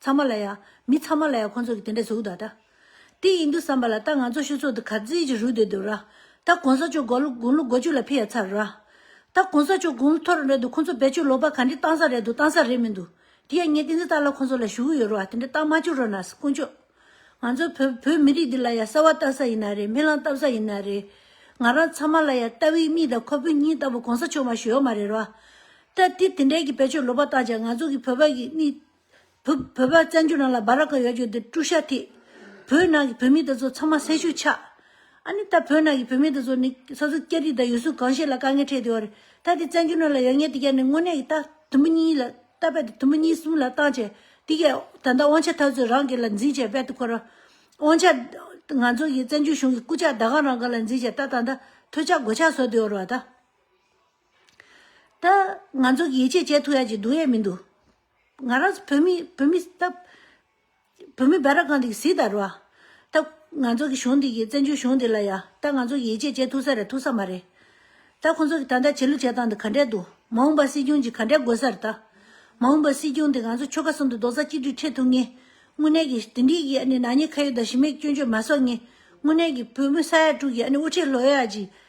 ཚང་མ་ལ་ཡ། མི་ཚང་མ་ལ་ཡ་ཁོང་ཚོ་གི་དེ་འདྲའི་གཟུགས་དག་འདྲ། དེ་ཡིན་འདུག་བསམ་པ་ལ་ད་ང་ཚོ་ཤུ་ཚོགས་འདི་གར་བརྫིས་ཀྱི་རུལ་འདོད་འདུག་ར། ད་གོང་ས་མཆོག་དགོང་ལོ་དགུ་བཅུ་ལ་ཕི་ཡ་ཚར་ར། ད་གོང་ས་མཆོག་དགུང་ལོ་ཐོར་རེད་འདུག་ཁོང་ཚོ་བེད་སྤྱོད་ལོག་པ་ག་འདྲི་བཏང་ས་རེད་འདུག་བཏང་ས་རེད་མི་འདུག་དེ་ཡ་ངས་ཏིང་འཛིན་བཏང་ལ་ཁོང་ཚོ་ལ་ཞུ་གི་ཡོད་རོ་ཨ་དེ་འདྲ་བཏང་མ་བཅུག་རོ་ན་དཀོན་མཆོག། ང་ཚོ་བོད་བོད་མི་རིགས་འདི་ལ་ཡ་གསར་བ་བཏང་ས་ཡིན་ན་རེད་མི་ལང་བཏང་ས་ཡིན་ན་རེད། ང་རང་ཚང་མ་ལ་ཡ་རྟ་བི་གཉིས་དང་ཁོ་བོས་གཉིས་ལྟ་བུ་གོང་ས་མཆོག་མ་ཞུ་ཡོག་མ་རེད་ར། ད་དེ་དེ་འདྲའི་གི་བེད་སྤྱོད་ལོག་པ་བཏང་ཅག་ང་ཚོ་གི་བོད་པ་གི་གནིས། བོད་པ་བཙན་བྱོལ་ནང་ལ་སྦ་ར་ཀ་ཡོད་རྒྱུ་འདི་ཀྲུ་ཤ་ཐི། བོད་ནང་གི་བོད་མི་དེ་ཚོ་ཚང་མ་སེར་ཤུལ་ཆགས། ཨ་ནི་ད་བོད་ནང་གི་བོད་མི་དེ་ཚོ་ནི་ས་ཟུར་སྐྱ་རིས་དང་ཡུལ་སྲོལ་གང་ཞིག་ལ་དཀའ་ངལ་འཕྲད་དེ་འོར། ད་དེ་བཙན་བྱོལ་ནང་ལ་ཡོད་ངེས་དེ་ག་ནི་དངོས་གནས་ཀྱི་རྟ་དུམ་བུ་གཉིས་ལ་རྟ་རྦད་དེ་དུམ་བུ་གཉིས་གསུམ་ལ་བཏང་བྱས་དེ་གས་ད་ལྟ་དབང་ཆ་ཐབས་ཚོད་རང་གི་ལ་འཛིན་བྱས་རྦད་དེ་འཁོར། དབང་ཆ། ང་ཚོ་གི་བཙན་བྱོལ་གཞུང་གི་སྐུ་ཕྱག་ཟླ་གང་རང་གི་ལ་འཛིན་བྱས་ད་ད་ད་ཐོད་ཆགས་སྒོ་ཆགས་བཟོ་དེ་འོར་བ་ད། ད། ང་ཚོ་གི་ཡིད་ཆེས་བྱས་ཐུག་ཡ་གྱི་འདུག་ཡས་མི་འདུག། ང་རང་བོད་མི་བོད་མི་ད་བོད་མི་སྦ་ར་གང་དེ་སིད་ད་རུ་བ་ད་ང་ཚོ་གི་གཞུང་དེ་གི་བཙན་བྱོལ་གཞུང་དེ་ལ་ཡ་ད་ང་ཚོ་གི་ཡིད་ཆེས་བྱེད་ཐུག་ས་རེད་ཐུག་ས་མ་རེད་ད་ཁོང་ཚོ་གི་ད་ལྟ་བྱེད་ལུགས་བྱེད་སྟངས་དེ་ག་འདྲས་འདུག་མ་འོངས་པ་སྲིད་སྐྱོང་གི་ག་འདྲས་དགོས་ས་རེད་ད་མ་འོངས་པ་སྲིད་སྐྱོང་དེ་ང་ཚོ་ཆོལ་ཁ་གསུམ་དུ་རྡོག་རྩ་གཅིག་སྒྲིལ་འཕྲད་ཐུག་ངེས་དངོས་གནས་གི་དེ་འདྲིས་གི་ཨ་ནི་ནག་ཉེས་ཁ་ཡོད་དང་ཞི་མེད་སྐྱོན་བརྗོད་མ་གསོག་ངེས་དངོས་གནས་གི་བོད་མི་ས་ཡ་དྲུག་གི་ཨ་ནི་དབུ་ཁྲིད་ལོ་ཡ་གཅིག་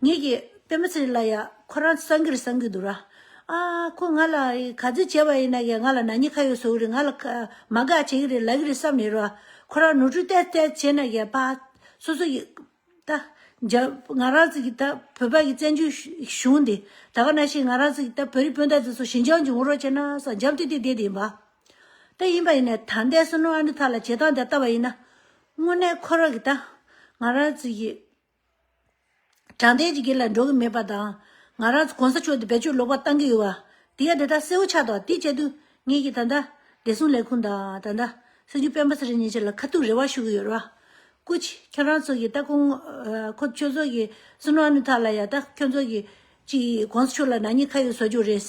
ངེད་ཀྱི་པད་མ་ཚེ་རིང་ལ་ཡང་ཁོ་རང་སངས་རྒྱས་རེད་བསམ་གྱི་འདུག་ར། ཨ། ཁོ་ང་ལ་ག་ཚོད་བྱས་པ་ཡིན་ན་ཡང་ང་ལ་ན་ཉི་ཁ་ཡོད་བཟོ་གི་རེད་ང་ལ་མ་དགའ་བྱེད་ཀྱི་རེད་ལབ་ཀྱི་རེད་བསམ་ཡོད་ར། ཁོ་རང་ནོར་འཁྲུལ་བལྟས་བལྟས་བྱས་ན་ཡང་པ། སོ་སོ་ཡི། ད། འཇའ། ང་རང་ཚོ་གི་ད་བོད་པ་ཡི་བཙན་བྱོལ་གཞུང་འདི། ད་ག་ན་བཞིན་ང་རང་ཚོ་གི་ད་བོད་རིགས་སྤུན་ཟླ་དེ་ཚོ་ཞིན་ཅང་གི་ངོ་རོགས་བྱས་ན་ས་འཇམ་ཏིག་ཏིག་དེ་དེ་ཡིན་པ། ད་ཡིན་པ་ཡིན་ན་ད་ལྟའི་སུ་ནོ་ཨ་ནུ་ཐ་ལ་བྱེད་སྟངས་དེ་ལྟ་བ་ཡིན་ན། དངོས་གནས་ཁོ་རང་གི་ད། ང་རང་ཚོ་ཡི། དྲང་བདེན་གྱི་དགེ་ལ་འགྲོ་གི་མེད་པ་དང། ང་རང་གོང་ས་མཆོག་འདི་བེད་སྤྱོད་ལོག་པར་བཏང་གི་ཡོད་བ། དེ་ཡང་འདི་ལྟར་གསལ་བོ་ཆགས་དང་དེའི་དཔྱད་དུ། ངེད་ཀྱིས་ད་ལྟ། བདེ་སྲུང་ལས་ཁུངས་དང་ད་ལྟ། སྲིད་འབྱོར་སྤེན་པ་ཚེ་རིང་གཉིས་ཀྱི་ལ་ཁ་ཐུག་རེ་བ་ཞུ་གི་ཡོད་ར། སྐུ། ཁྱོད་རང་ཚོ་གི་ད་ཁོ། ཁོ་ཚོ་ཚོ་གི་སུན་ཨ་ནུ་ཐག་ལ་ཡ་ད་ཁྱོད་ཚོ་གི། ཅིག་གོང་ས་མཆོག་ལ་ནག་ཉེས་ཁ་ཡོད་བཟོ་རྒྱུ་རེད།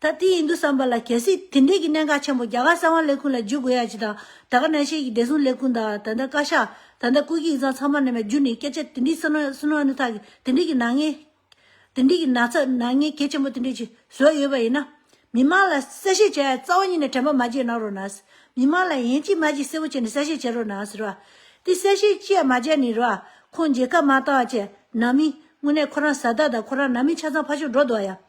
ད་དེ་ཡིན་འདུག་བསམ་པ་ལ་གལ་སྲིད་དེ་འབྲེལ་གྱི་གནད་འགག་ཆེན་པོ་རྒྱ་གར་གསང་བ་ལས་ཁུངས་ལ་འཇུག་དགོས་ཡ་ཇི་དང་ད་ག་ནན་ཤེལ་གྱི་བདེ་སྲུང་ལས་ཁུངས་དང་ད་ལྟ་བཀའ་ཤག་ད་ལྟ་བཀོད་ཀྱི་ཡིག་ཚང་ཚང་མ་ནས་མའི་རྒྱུ་ནས་སྐད་ཆ་དེ་འདྲའི་སུན་རོལ་སུན་རོལ་ནི་ཐག་གི་དེ་འདྲའི་གྱི་ནག་ཉེས་དེ་འདྲའི་གྱི་ན་ཚ་ནག་ཉེས་གལ་ཆེན་པོ་དེ་འདྲའི་གྱི་བཟོས་ཡོད་པ་ཡིན་ན། མི་མང་ལ་གསལ་བཤད་བྱས་ཡ་རྩ་བ་ཉིད་ནས་དྲན་པ་མ་བྱེད་གནང་རོགས་གནང། མི་མང་ལ་ཡན་གཅིག་མ་གཅིག་གསལ་བོ་བྱས་ནས་གསལ་བཤད་བྱེད་རོགས་གནང་ཟེར་བ། དེ་གསལ་བཤད་བཅས་མ་བྱས་ནས་རོགས། ཁོང་མཇལ་ཁ་མ་བཏང་བ་བཅས་ནང་མི་དངོས་གནས་ཁོ་རང་བཟའ་ཟླ་དང་ཁོ་རང་ནང་མི་ཆ་ཚང་ཕ་ཕྱོགས་འགྲོ་འདུག་བ་ཡང།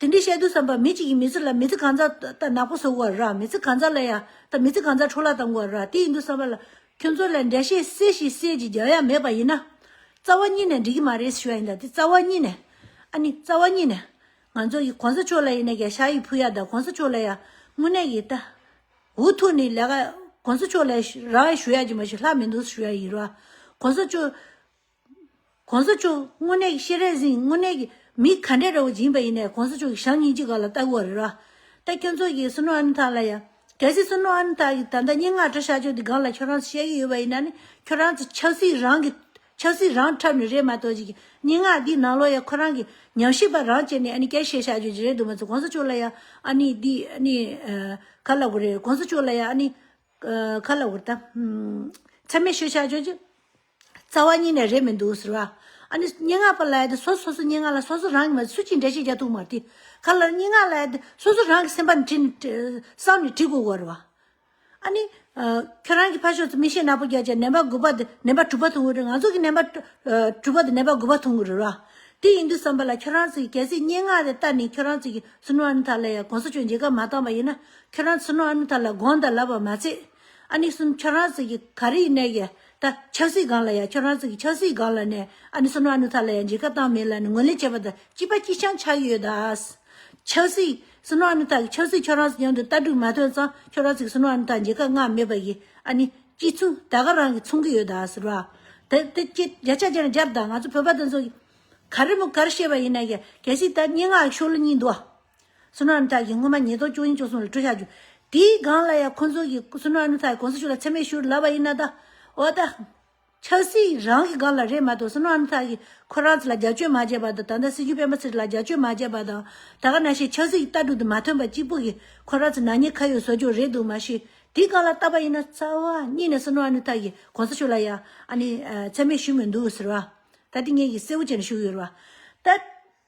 དེ་འདི་བཤད་དུ་བསམ་པ་མི་གཅིག་གིས་མི་ཚེ་ལ་མི་ཚེ་གང་ཙར་ལྟ་ནག་པོ་བཟོ་དགོས་ར་མི་ཚེ་གང་ཙར་ལ་ཡ་ལྟ་མི་ཚེ་གང་ཙར་འཕྲོ་བརླག་བཏང་དགོས་ར་དེ་ཡིན་དུ་བསམ་པ་ལ་ཁྱོད་ཚོ་ལ་འདྲ་བཤད་སེ་ཞིག་སེ་ཅིག་རྒྱག་ཡ་མེད་པ་ཡིན་ན། རྩ་བ་གཉིས་ནས་འགྲིག་གི་མ་རེད་ཞུ་ཡ་ཡིན་ད་དེ་རྩ་བ་གཉིས་ནས་ཨ་ནི་རྩ་བ་གཉིས་ནས་ང་ཚོ་ཡི་གོང་ས་མཆོག་ལ་ཡིན་ན་ག་ཤ་ཡིག་ཕུལ་ཡ་ད་གོང་ས་མཆོག་ལ་ཡ་དངོས་གནས་ཡིན་ད་འུ་ཐུག་ནི་ལས་ཀ་གོང་ས་མཆོག་ལ་ར་ཞུ་ཡ་གྱི་མ་ཞུ་ལྷག་མི་འདུག་ཞུ་ཡ་ཡིན་ར་གོང་ས་མཆོག། གོང་ས་མཆོག་དངོས་གནས་ཀྱི་ཤེས་རབ་ཟིན་དངོས་གནས་ཀྱི་མི་ག་འདྲས་ར་བོ་སྦྱིན་པ་ཡིན་ནས་གོང་ས་མཆོག་གི་ཞབས་གཉིས་ཅི་ག་ལ་ལྟ་དགོས་རེད་ར། ད་ཁྱོད་ཚོ་གིས་སུ་ནུ་ཨ་ནུ་དག་ལ་ཡང་གལ་སྲིད་སུ་ནུ་ཨ་ནུ་དག་གིས་ད་ལྟ་སྙན་ངག་འབྲི་ཤག་ཆོག་འདི་གང་ལ་ཁྱོད་རང་ཚོས་བཤད་ཀྱི་ཡོད་པ་ཡིན་ན་ནི་ཁྱོད་རང་ཚོས་ཆབ་སྲིད་རང་གི་ཆབ་སྲིད་རང་འཁྲབ་ནི་རེད་མ་གཏོགས་ཀྱི་སྙན་ངག་འདིའི་ནང་ལོ་ཡ་ཁོ་རང་གི་ཉམས་ཞིབ་པ་རང་བྱས་ནས་ཨ་ནི་སྐད་བཤད་ཤག་ཆོག་ཅི་རེད་འདུག་མ་ཚོ་གོང་ས་མཆོག་ལ་ཡང་ཨ་ནི་འདི་ཨ་ནི་ག་ལ་དགོས་རེད་གོང་ས་མཆོག་ལ་ཡང་ཨ་ནི་ག་ལ་དགོས་རེད་ད། ཚད་མེད་བཤད་ཤག་ཆོག་ཅི། རྩ་བ་གཉིས་ནས་རེད་མི་འདུག་ཟེར་བ། ཨ་ནི་སྙན་ངག་པ་ལའི་སོ་སོ་སོའི་སྙན་ངག་ལ་སོ་སོ་རང་གི་མ་སུ་གཅིག་འདྲ་ཞིག་རྒྱག་ཐུབ་མ་ཏི། ག་ལ་སྙན་ངག་ལ་སོ་སོ་རང་གི་སེམས་པ་ནས་བྲིས་ནས་བསམ་ནས་བྲིས་དགོས་གོ། ཨ་ནི། ཁྱོད་རང་གི་ཕ་ཕྱོགས་སུ་མི་ཤེས་ནག་པོ་རྒྱག་ཅེས་ནན་པ་དགུ་པ་དེ་ནན་པ་དྲུག་པ་འཐུང་གི་རེད་ང་ཚོ་གིས་ནན་པ་དྲུག་པ་དེ་ནན་པ་དགུ་པ་འཐུང་གི་རེད། དེ་ཡིན་དུས་བསམ་པ་ལ་ཁྱོད་རང་ཚོས་གལ་སྲིད་སྙན་ངག་དེ་ལྟར་ནས་ཁྱོད་རང་ཚོས་ཀྱི་སུན་ཧྭ་ཨན་ཐར་ལ་ཡང་གོང་ས་མཆོག་མཇལ་ཁ་མ་བཏང་བ་ཡིན་ན་ཁྱོད་རང་ཚོས་སུན་ཧྭ་ཨན་ཐར་ལ་དགོངས་དག་ལབ་པ་མ་ཚད། ཨ་ནི་སུན་ཁྱོད་རང་ཚོས་ཀྱི་ག་རེ་ཡིན་ནའི་གལ་ད་ཆབ་སྲིད་སྒང་ལ་ཡང་ཁྱོད་རང་ཚོ་གི་ཆབ་སྲིད་སྒང་ལ་ནས་ཨ་ནུ་སུ་ནུ་ཨ་ནུ་ཐ་ལ་ཡང་འཇིགས་སྐལ་བཏང་མེད་ལ་ནས་ངོས་ལེན་བྱེད་པ་ད་སྐྱིད་པ་སྐྱིད་ཆང་ཆགས་ཀྱི་ཡོད་ད། ཆབ་སྲིད་སུ་ནུ་ཨ་ནུ་ཐ་གི་ཆབ་སྲིད་ཁྱོད་རང་ཚོ་མཉམ་དུ་ལྟ་གྲུབ་མ་ཐོན་ཙང་ཁྱོད་རང་ཚོ་གི་སུ་ནུ་ཨ་ནུ་ཐ་འཇིགས་སྐལ་བསྔགས་མེད་པ་གི་ཨ་ནི་སྐྱིད་ཆུང་ད་ག་རང་གི་ཚོང་གི་ཡོད་ད་ཟེར་བ། དེ་དེ་སྐྱིད་རྒྱ་ཆ་ཅན་རྒྱབ་ད་ང་ཚོ་བོད་པ་དེ་ཚོ་གི་ག་རེ་མོ་ག་རེ་བཤད་པ་ཡིན་ན་ཡང་གལ་སྲིད་ད་སྙན་ངག་གི་ཤོག་ལོ་གཉིས་འདུག་ཨ། སུ་ནོ་ཨ་མི་ཐག་གིས་སྔོན་མ་ཉིས་སྟོང་བཅུ་གཉིས་བཅུ་གསུམ་ལ་སྤྲོད་བཞག་རྒྱུ་དེའི་སྒང་ལ་ཡང་ཁོ་ཚོ་གིས་སུ་ནོ་ཨ་མི་ཐག་གི་གོང་ས་མཆོག་ལ་མཚན་སྨད་ཞུ་རུ་ལབ་པ་ཡིན་ན་ད། འོ་ད། ཆབ་སྲིད་རང་གི་སྒང་ལ་རེད་མ་གཏོགས་སུ་ནོ་ཨ་མི་ཐག་གིས་ཁོ་རང་ཚོ་ལ་རྒྱབ་སྐྱོད་མ་བྱས་པ་དང་ད་ལྟ་སྲིད་འགྱུར་སྤེན་པ་ཚེ་རིང་ལ་རྒྱབ་སྐྱོད་མ་བྱས་པ་དང་ད་ག་ན་ཤེས་ཆབ་སྲིད་ཀྱི་ལྟ་གྲུབ་དེ་མ་ཐོན་པ་གཅིག་པུ་གིས་ཁོ་རང་ཚོ་ནག་ཉེས་ཁ་ཡོད་བཟོ་རྒྱུ་རེད་འདུག་མ་གཞི་དེའི་སྒང་ལ་བལྟ་བ་ཡིན་ན་རྩ་བ་ཉིད་ནས་སུ་ནོ་ཨ་མི་ཐག་གིས་གོང་ས་མཆོག་ལ་ཡང་ཨ་ནི་མཚན་སྨད་ཞུས་མི་འདུག་ཟེར་བ། ད་དེ་ངེད་ཀྱིས་གསལ་བོ་བྱས་ནས་ཞུ་གི་ཡོད་རེད་བ། ད།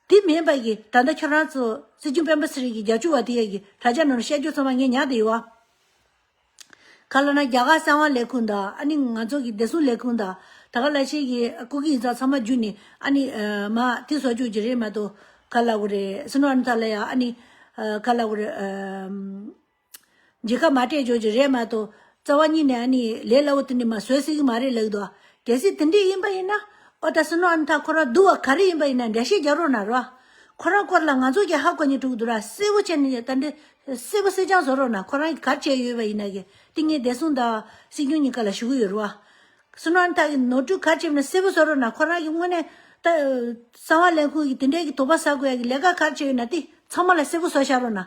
དེ་མིན་པ་ཡི་ད་ལྟ་ཁྱོད་རང་ཚོ་སྲིད་སྐྱོང་སྤེན་པ་སི་རིག་གི་རྒྱ་ཆུ་བ་དེ་ཡ་གི་དྲ་རྒྱ་ནོར་བཤད་རྒྱུ་ཚང་མ་ངས་ཉག་དེ་ཡི་བ། ཁ་ལོ་ན་རྒྱ་གར་གསང་བ་ལས་ཁུངས་དང་ཨ་ནི་ང་ཚོ་གི་བདེ་སྲུང་ལས་ཁུངས་དང་ད་ག་ལ་ཆེ་གི་སྐུ་གི་ཡིན་ཙང་ཚང་མ་རྒྱུ་ནི་ཨ་ནི་མ་དེ་བཟོ་རྒྱུ་གི་རེད་མ་ཏོ་ག་ལ་གུ་རེ་སི་ནོ་ཨ་ནི་ད་ལ་ཡ་ཨ་ནི་ག་ལ་གུ་རེ། འཇིགས་ཁ་མ་སྤྲད་ཆོག་གི་རེད་མ་གཏོགས་རྩ་བ་ཉིད་ནས་ཨ་ནི་ལས་སླ་བོ་དེ་འདྲ་མ་བཟོས་སྲིད་གི་མ་རེད་ལགས་འདུག་གལ་སྲིད་དེ་འདྲས་ཡིན་པ་ཡིན་ན་ཨོ་ད་སོན་ཨ་ན་ད་ཁོ་རང་འདུག་བ་ག་རེ་ཡིན་པ་ཡིན་ན་འདྲ་བཤད་རྒྱག་རོགས་གནང་རོགས་ཨ་ཁོ་རང་སྐོར་ལ་ང་ཚོ་གི་ཧ་གོ་ཉེ་དྲུག་འདུག་ར་གསལ་བོ་བྱས་ནས་ད་འདྲས་གསལ་བོ་གསལ་རྐྱང་བཟོ་རོགས་གནང་ཁོ་རང་གི་གར་བྱས་ཡོད་པ་ཡིན་ན་གི་ཏིང་ངེ་འདས་སུང་དང་སྲིད་སྐྱོང་གཉིས་ཀ་ལ་ཞུ་གི་ཡོད་རོགས་ཨ་སོན་ཨ་ན་ད་གི་ནོར་འཁྲུལ་གར་བྱས་པ་ན་གསལ་བོ་བཟོ་རོགས་གནང་ཁོ་རང་གི་དངོས་གནས་ད་གསང་བ་ལས་ཁུང་གི་དེ་འདྲས་གི་དོགས་པ་ཟ་དགོས་ཡ་གི་ལས་ཀ་གར་བྱས་ཡོད་ན་དེ་ཚང་མ་ལ་གསལ་བོ་བཟོ་བཞག་རོགས་གནང།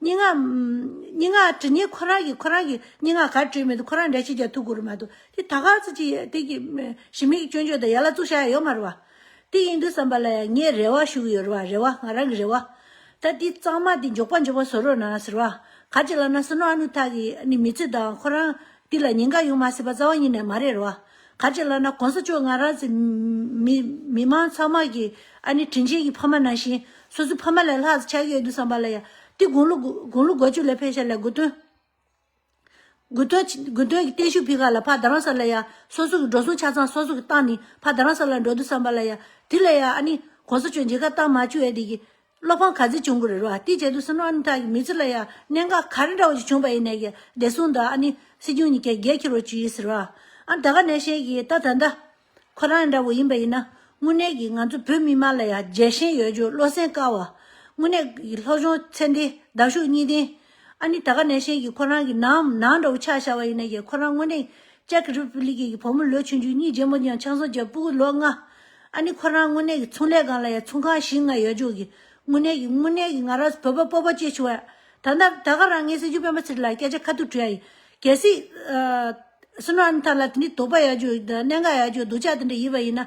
སྙན་ངག། སྙན་ངག་ཇི་སྙེད་ཁོ་རང་གིས་ཁོ་རང་གི་སྙན་ངག་གར་བྲིས་མི་འདུག་ཁོ་རང་འདྲ་ཞིག་ཀྱང་ཐུག་གི་རུ་མ་འདུག་དེ་ད་གར་ཚོད་ཅིག་དེ་གི་ཞི་མི་གི་སྐྱོན་བརྗོད་དང་ཡ་ལ་བཙུགས་བཞག་ཡ་ཡོད་མ་རུ་བ། དེ་ཡིན་དུས་བསམ་པ་ལ་ཡང་ངས་རེ་བ་ཞུ་གི་ཡོད་རུ་བ་རེ་བ་ང་རང་གི་རེ་བ། ད་དེ་གཙང་མ་དེ་འཇོག་པ་འཇོག་པ་བཟོ་རོགས་གནང་ཟེར་བ། ག་ཅིག་ལ་ན་སུ་ནོ་ཨ་ནུ་ཐག་གི་ནི་མི་ཚེ་དང་ཁོ་རང་དེ་ལ་ཉེན་ཁ་ཡོང་མ་སྲིད་པ་རྩ་བ་ཉིད་ནས་མ་རེད་རུ་བ། ག་ཅེས་ལབ་ན་གོང་ས་མཆོག་ང་རང་ཚེ་མི་མི་མང་ཚང་མ་གི་ཨ་ནི་དྲིན་ཆེན་གི་ཕ་མ་ནང་བཞིན་སོ་སོའི་ཕ་མ་ལས་ལྷག་ཆ་ཡོད་དུ་བསམ་པ་ལ་ཡ་ཏི་དགུང་ལོ་དགུང་ལོ་གོ་བཅུ་ལས་ཕེབས་ཤ་ལས་དགུ་སྟོན་དགུ་སྟོན་དགུ་སྟོན་གི་བརྟན་བཞུགས་ཕི་ག་ལ་ཕ་ད་རང་ས་ལ་ཡ་སོ་སོ་གི་འགྲོ་སོང་ཆ་ཚང་སོ་སོ་གི་བཏང་ནི་ཕ་ད་རང་ས་ལ་འགྲོ་དུ་བསམ་པ་ལ་ཡ་དེ་ལ་ཡ་ཨ་ནི་གོང་ས་མཆོག་མཇེ་ཁ་བཏང་མ་བཅུ་ཡ་དེ་གི་བློ་ཕམ་ག་ཚོད་བྱུང་གི་རེད་རོ་ཨ་ཏི་བྱས་འདུག་སུ་ནོ་ཨ་ནི་ད་ཀྱི་མི་ཚོ་ལ་ཡ་གནས་འགའ་ག་རེ་འདྲ་བོ་ཞིག་བྱུང་པ་ཡིན་ནའི་ཀྱི་བདེ་སྲུང་དང་ཨ་ནི་སྲིད་སྐྱོང་གཉིས་ཀྱི་རྒྱལ་ཁྱེར་བོ་བྱུས་ཟེར་བ་ཨ་ད་ག་ནས་ཤེས་ཀྱི་ད་ད་འདྲ་ཁོ་རང་ཡང་འདྲ་བོ་ཡིན་པ་ཡིན་ན་དངོས་གནས་ཀྱི་ང་ཚོ་བོད་མི་དམངས་ལ་ཡ་རྒྱལ་ཞེན་ཡོད་རྒྱུ་བློ་སེང་དཀའ་བ་དངོས་གནས་ཀྱི་ལྷོ་གཞོང་ཚེ་འདི་ཟླ་གཞུག་གཉིས་ལྡན་ཨ་ནི་ད་ག་ནས་ཤེས་ཀྱི་ཁོ་རང་གི་ནང་ནང་འདྲ་བོ་ཆགས་ཤར་བ་ཡིན་ན་ཡང་ཁོ་རང་དངོས་གནས Czech Republic གི་བུ་མོ་ལོ་ཆུང་ཆུང་གཉིས་རྗེས་མོ་ཡང་ཆང་བཟོ་བྱས་སྤུ་གུ་ལོ་ལྔ། ཨ་ནི་ཁོ་རང་དངོས་གནས་ཀྱི་ཚོང་ལས་སྒང་ལ་ཡང་ཚོང་ཁང་བཞི་ལྔ་ཡོད་ཆོག་གི་དངོས་གནས་ཀྱི་དངོས་གནས་ཀྱི་ང་རང་བོད་པ་སྤོབས་པ་སྐྱེས་བྱུང་ཡ། ད་ད་ག་རང་ངས་སྲིད་འབྱོར་སྤེན་པ་ཚེ་རིང་ལ་སྐད་ཆ་ཁ་ཐུག་དྲི་ཡ་ཡིན། གལ་སྲིད། སུ་ནོ་ཨ་ནི་ཐ་ལ་དེ་འདྲའི་དོགས་པ་ཡག་རྒྱུ་གནད་འགག་ཡག་རྒྱུ་སྡུག་ཅག་དེ་འདྲ་ཡིན་པ་ཡིན་ན།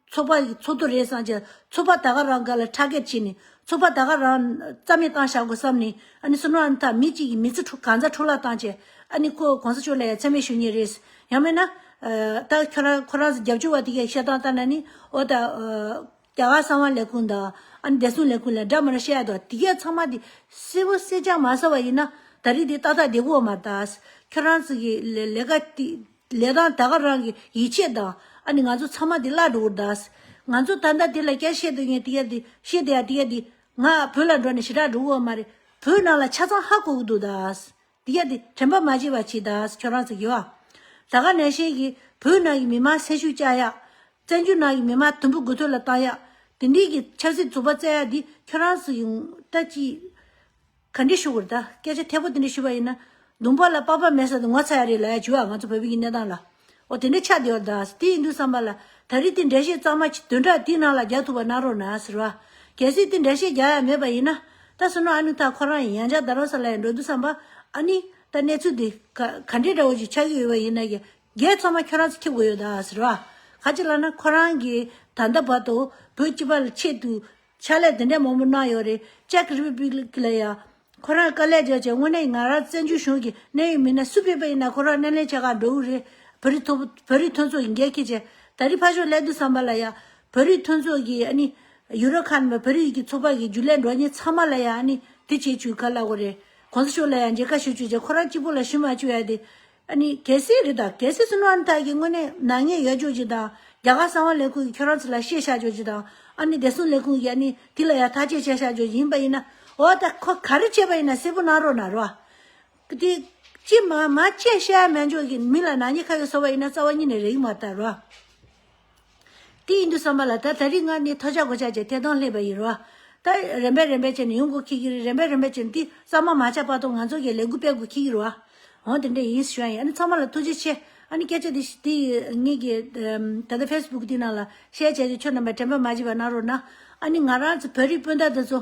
ཚོགས་པ་ཡི་ཚོགས་དུ་རེད་བསམ་གྱི། ཚོགས་པ་ད་ག་རང་ག་ལ་ཁྲ་སྐད་བྱས་ནས། ཚོགས་པ་ད་ག་རང་རྩ་མེད་བཏང་བཞག་དགོས་བསམ་ནས། ཨ་ནི་སུ་ནོ་ཨ་ནི་ཐ་མི་གཅིག་གི་མི་ཚེ་འཁྲུག་གང་ཟག་འཁྲུག་ལ་བཏང་བྱས། ཨ་ནི་ཁོ་གོང་ས་མཆོག་ལ་ཡ་མཚན་མེད་ཞུ་ངེས་རེད། ཡང་མེད་ན། ད་ཁྱོད་རང་ཁོ་རང་རྒྱབ་སྐྱོར་བ་དེ་གས་བཤད་སྟངས་ལྟར་ན་ནི། ཨོ་ད། རྒྱ་གར་གསང་བ་ལས་ཁུངས་དང། ཨ་ནི་བདེ་སྲུང་ལས་ཁུངས་ལས་འདྲ་མིན་ལ་བཤད་ཡག་དོ་དེ་གས་ཚང་མ་དེ། སེར་བོ་སེར་སྤྱང་མ་ཟ་བ་ཡིན་ན། ད་རིགས་དེ་ཏག་ཏག་བདེ་པོ་བ་མ་རྟགས། ཁྱོད་རང་ཚིག་གི་ལས་ཀ་དེ། ལས་དང་ད་ག་རང་གི་ཡིད་ཆེས་དང། ཨ་ནི་ང་ཚོ་ཚང་མ་དེ་བླ་འགྲོ་འུར་གདའས། ང་ཚོ་ད་ལྟ་དེ་ལ་སྐྱར་བཤད་འདོད་ངེས་དེ་ཡ་དེ་བཤད་དེ་ཡ་དེ་ཡ་དེ། ང་བོད་ལ་འགྲོ་ནས་ཞི་དྲག་འགྲོ་འུར་བ་མ་རེད། བོད་ནང་ལ་ཆ་ཚང་ཧ་གོ་གི་འདུག་གདའས། དེ་ཡ་དེ་དྲན་པ་མ་བྱེད་པ་བྱེད་གདའས་ཁྱོད་རང་ཚོ་དགེ་བ། ད་ག་ནས་ཤེས་ཀྱི་བོད་ནང་གི་མི་མང་སེམས་ཤུགས་བཅག་ཡག། བཙན་བྱོལ་ནང་གི་མི་མང་དུམ་བུ་དགུ་ཐོད་ལ་བཏང་ཡག། དེ་འདྲིས་ཀྱི་ཆབ་སྲིད་རྩོད་པ་བཙལ་ཡག་དེ་ཁྱོད་རང་ཚོ་ཡིན། ད་ཅི། ག་འདྲི་ཞུ་དགོས་རེད་ད་སྐད་ཆ་ཐད་པོ་དེ་འདྲི་ཞུ་བ་ཡིན་ན། ལུང་པ་ལ་དཔའ་བར་མེད་ས་དེ་ངོ་ཚ་ཡ་རེད་ལ་ཡ་བྱུ་ཨ་ང་ཚོ་བོད་པའི་གི་གནས་སྟངས་ལ། འོ་དེ་འདྲི་ཆགས་བསྡད་ཡོད་རེད་ད་དེ་ཡིན་དུས་བསམ་པ་ལ་ད་རེས་དེ་འདྲེ་བཤད་གཙང་མ་དོན་དྲ་དེའི་ནང་ལ་རྒྱག་ཐུབ་པ་གནང་རོགས་གནང་ཟེར་བ། གལ་སྲིད་དེ་འདྲེ་བཤད་རྒྱག་ཡ་མེད་པ་ཡིན་ན། ད་སུན་ནོ་ཨ་ནུ་ཐ་ཁོ་རང་ཡང་ཇག་རྡ་རོ་ས་ལ་ཡང་འགྲོ་དུས་བསམ་པ། ཨ་ནི། ད་གནས་ཚུལ་དེ། ག་འདྲི་འདྲ་བོ་ཞིག་ཆགས་ཀྱི་ཡོད་པ་ཡིན་ན། རྒྱལ་ཚོགས་མ་ཁྱོད་རང་ཚོ་ཁྱེར་དགོས་ཡོད་རེད་ཟེར་བ། ག་ཅིག་ལ་ན་ཁོ་རང་གི་ད་ལྟ་བར་དུ་བོད་སྤྱི་པ་ལ་ཆེད་དུ། ཕྱག་ལས་དེ་འདྲ་མང་པོ་གནང་ཡོད་རེད་ཅེཀ་རི་པི་པི་ལིག་ལ་ཡང། ཁོ་རང་དཀའ་ལས་བརྒྱབ་ཅིང་དངོས་གནས་ང་རང་བཙན་བྱོལ་གཞུང་གི་གནད་ཡོད་མི་སྣ་སུ་ཕེབས་པ་ཡིན་ན་ཁོ་རང་སྣེ་ལེན་བྱེད་ཁར་འགྲོ་འོས་རེད། བོད་རིགས་ཐོབ་བོད་རིགས་མཐུན་ཚོགས་ཀྱི་འགན་འཁྱེར་བྱས། ད་རིས་ཕ་ཞོག་སླད་དུ་བསམ་པ་ལ་ཡང། བོད་རིགས་མཐུན་ཚོགས་ཀྱི་ཨ་ནི། ཡུ་རོ་ཁཱན་བོད་རིགས་ཀྱི་ཚོགས་པ་གི་རྒྱུ་ལས་འགྲོ་ཉེ་ཚང་མ་ལ་ཡང་ཨ་ནི། དེ་བྱེད་བྱུས་ག་ལ་དགོས་རེད། གོང་ས་ཤོག་ལ་ཡང་མཇལ་ཁ་ཞུ་བྱུས་བྱས་ཁོ་རང་གཅིག་པོ་ལ་ཞུ་མ་བྱུས་ཨ་དེ། གལ་སྲིད་རེད་ད་གལ་སྲིད་སུན་ཧྲན་ཐའི་གིས་དངོས་གནས་ནག་ཉེས་ཡོད་ཆོག་ཅིག་དང་རྒྱ་གར་གསང་བ་ལས་ཁུངས་ཀྱིས་ཁྱོད་རང་ཚོ་ལ་བཤད་བཞག་ཆོག་ཅིག་དང་ཨ་ནི་བདེ་སྲུང་ལས་ཁུངས་ཀྱིས་ཨ་ནི་དེ་ལ་ཡང་ཐག་གཅད་བྱས་བཞག་ཆོག་ཡིན་པ་ཡིན་ན་འོ་ད་ཁོ་ག་རེ་བྱས་པ་ཡིན་ན་གསལ་པོ་གནང་རོགས་གནང་རོགས། དེ་ཅི་མ་མ་བྱས་བཤད་མ་འཇོག་གིས་མི་ལ་ནག་ཉེས་ཁ་ཡོད་བཟོ་བ་ཡིན་ན་རྩ་བ་ཉིད་ནས་རེག་མ་བལྟ་རོགས། དེ་ཡིན་དུ་བསམ་པ་ལ་ད་ད་རིགས་ལྔ་ནི་ཐོ་ཆག་གོ་ཆག་ཅེས་ཐད་དོང་སླེབས་པ་ཡིན་རོ། ད་རན་པས་རན་པས་ཅེ་ནི་ཡོང་གོ་ཁིག་གིར་རན་པས་རན་པས་ཅེ་ནི་དེ་གཙང་མ་མ་ཆག་པ་དོང་ང་ཚོ་གིས་ལས་འགུལ་སྤེལ་གོ་ཁིག་གིར་བ། འོང་དེ་འདྲ་ཡིན་ཞུ་ཡ་ཡིན་ཨ་ནི་ཚང་མ་ལ་ཐུགས་རྗེ་ཆེ་ཨ་ནི་སྐད་ཆ་དེ་ཞིག་དེ་ཡིས་ངེད་ཀྱིས་ད་ལྟ་ཕེས་བུག་དེ་ནང་ལ་བཤད་བྱས་ཀྱི་ཁྱོད་རྣམ་པས་དྲན་པ་མ་བྱེད་པ་གནང་རོགས་གནང་ཨ་ནི་ང་རང་ཚོ་བོད་རིགས་སྤུན་ཟླ་དེ་ཚོ།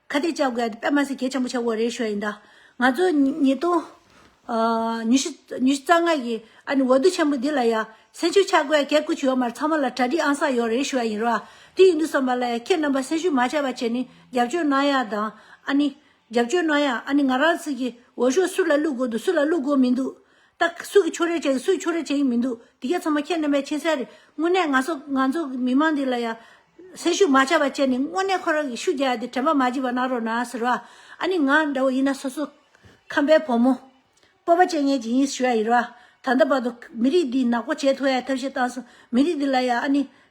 ཁ་གཏད་བཅག་དགོས་ཡ་དེ་པདྨ་སེ་གེ་ཆེན་པོ་ཆེ་བོ་རེད་ཤོད་ཡིན་ད། ང་ཚོ་ཉིས་སྟོང་ཉི་ཤུ་ཉི་ཤུ་རྩ་ལྔ་གི་ཨ་ནི་འོ་བསྡུ་ཆེན་པོ་འདི་ལ་ཡ་སེམས་ཤུགས་ཆག་དགོས་ཡ་གལ་སྐུ་ཆུ་ཡོད་མར་ཚང་མ་ལ་གྲ་སྒྲིག་ཨང་གསར་ཡོད་རེད་ཤོད་ཡ་ཡིན་རོ་ཨ་དེ་ཡིན་དུ་བསམ་པ་ལ་ཡ་ཁྱེད་རྣམ་པ་སེམས་ཤུགས་མ་ཆག་པ་བྱེད་ནི་རྒྱབ་སྐྱོར་གནང་ཡ་དང་ཨ་ནི་རྒྱབ་སྐྱོར་གནང་ཡ་ཨ་ནི་ང་རང་ཚིག་གི་འོ་ཤོག་སུ་ལ་བླུག་དགོས་འདུག་སུ་ལ་བླུག་དགོས་མིན་འདུག། ད་སུས་ཀྱི་ཆོས་རེད་བྱས་ཡིན་སུས་ཆོས་རེད་བྱས་ཡིན་མི་འདུག་འདི་ག་ཚང་མ་ཁྱེད་རྣམ་པས་མཁྱེན་གསལ་རེད་དངོས་གནས་ང་ཚོ་ང་ཚོ་མི་དམངས་འདི་ལ་ཡང། སེམས་ཤུགས་མ་ཆག་པ་བྱས་ནས་དངོས་གནས་ཁོ་རང་གི་ཤུགས་རྒྱག་ཡ་དེ་དྲན་པ་མ་བགྱིས་པ་གནང་རོགས་གནང་ཟེར་བ། ཨ་ནི་ང་འདྲ་བོ་ཡིན་ན་སོ་སོ། ཁམས་པའི་བུ་མོ། སྤོབས་པ་བྱེད་ངེས་ཀྱི་ཡིན་ཞུ་ཡ་ཡིན་རོགས་ཨ། ད་ལྟ་བར་དུ་མི་རིགས་འདི་ནག་པོ་བྱས་ཐུབ་ཡ་ཐབས་ཤེས་བཏང་སོང་མི་རིགས་འདི་ལ་ཡང་ཨ་ནི།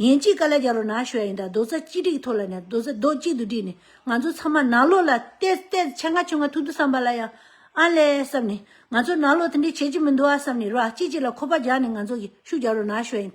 ཡན་གཅིག་ག་ལ་རྒྱ་རོ་ནག་ཤོད་ཡིན་དང་རྡོ་རྩ་གཅིག་བསྒྲིགས་ཐོག་ལ་ནས་རྡོ་རྩ་རྡོག་གཅིག་ཏུ་བསྒྲིགས་ནས་ང་ཚོ་ཚང་མ་ནག་ལོ་ལ་གཏད་གཏད་ཆ་འགའ་ཆོད་འགའ་ཐུག་འདུག་བསམ་པ་ལ་ཡང་ཨ་ལས་བསམ་ནས་ང་ཚོ་ནག་ལོ་དེ་འདྲས་བྱེད་ཀྱི་མི་འདུག་ཨ་བསམ་ནས་རོ་ཨ་གཅིག་གཅིག་ལ་ཁོ་པ་རྒྱག་ནས་ང་ཚོ་གིས་ཤུགས་རྒྱ་རོ་ནག་ཤོད་ཡིན།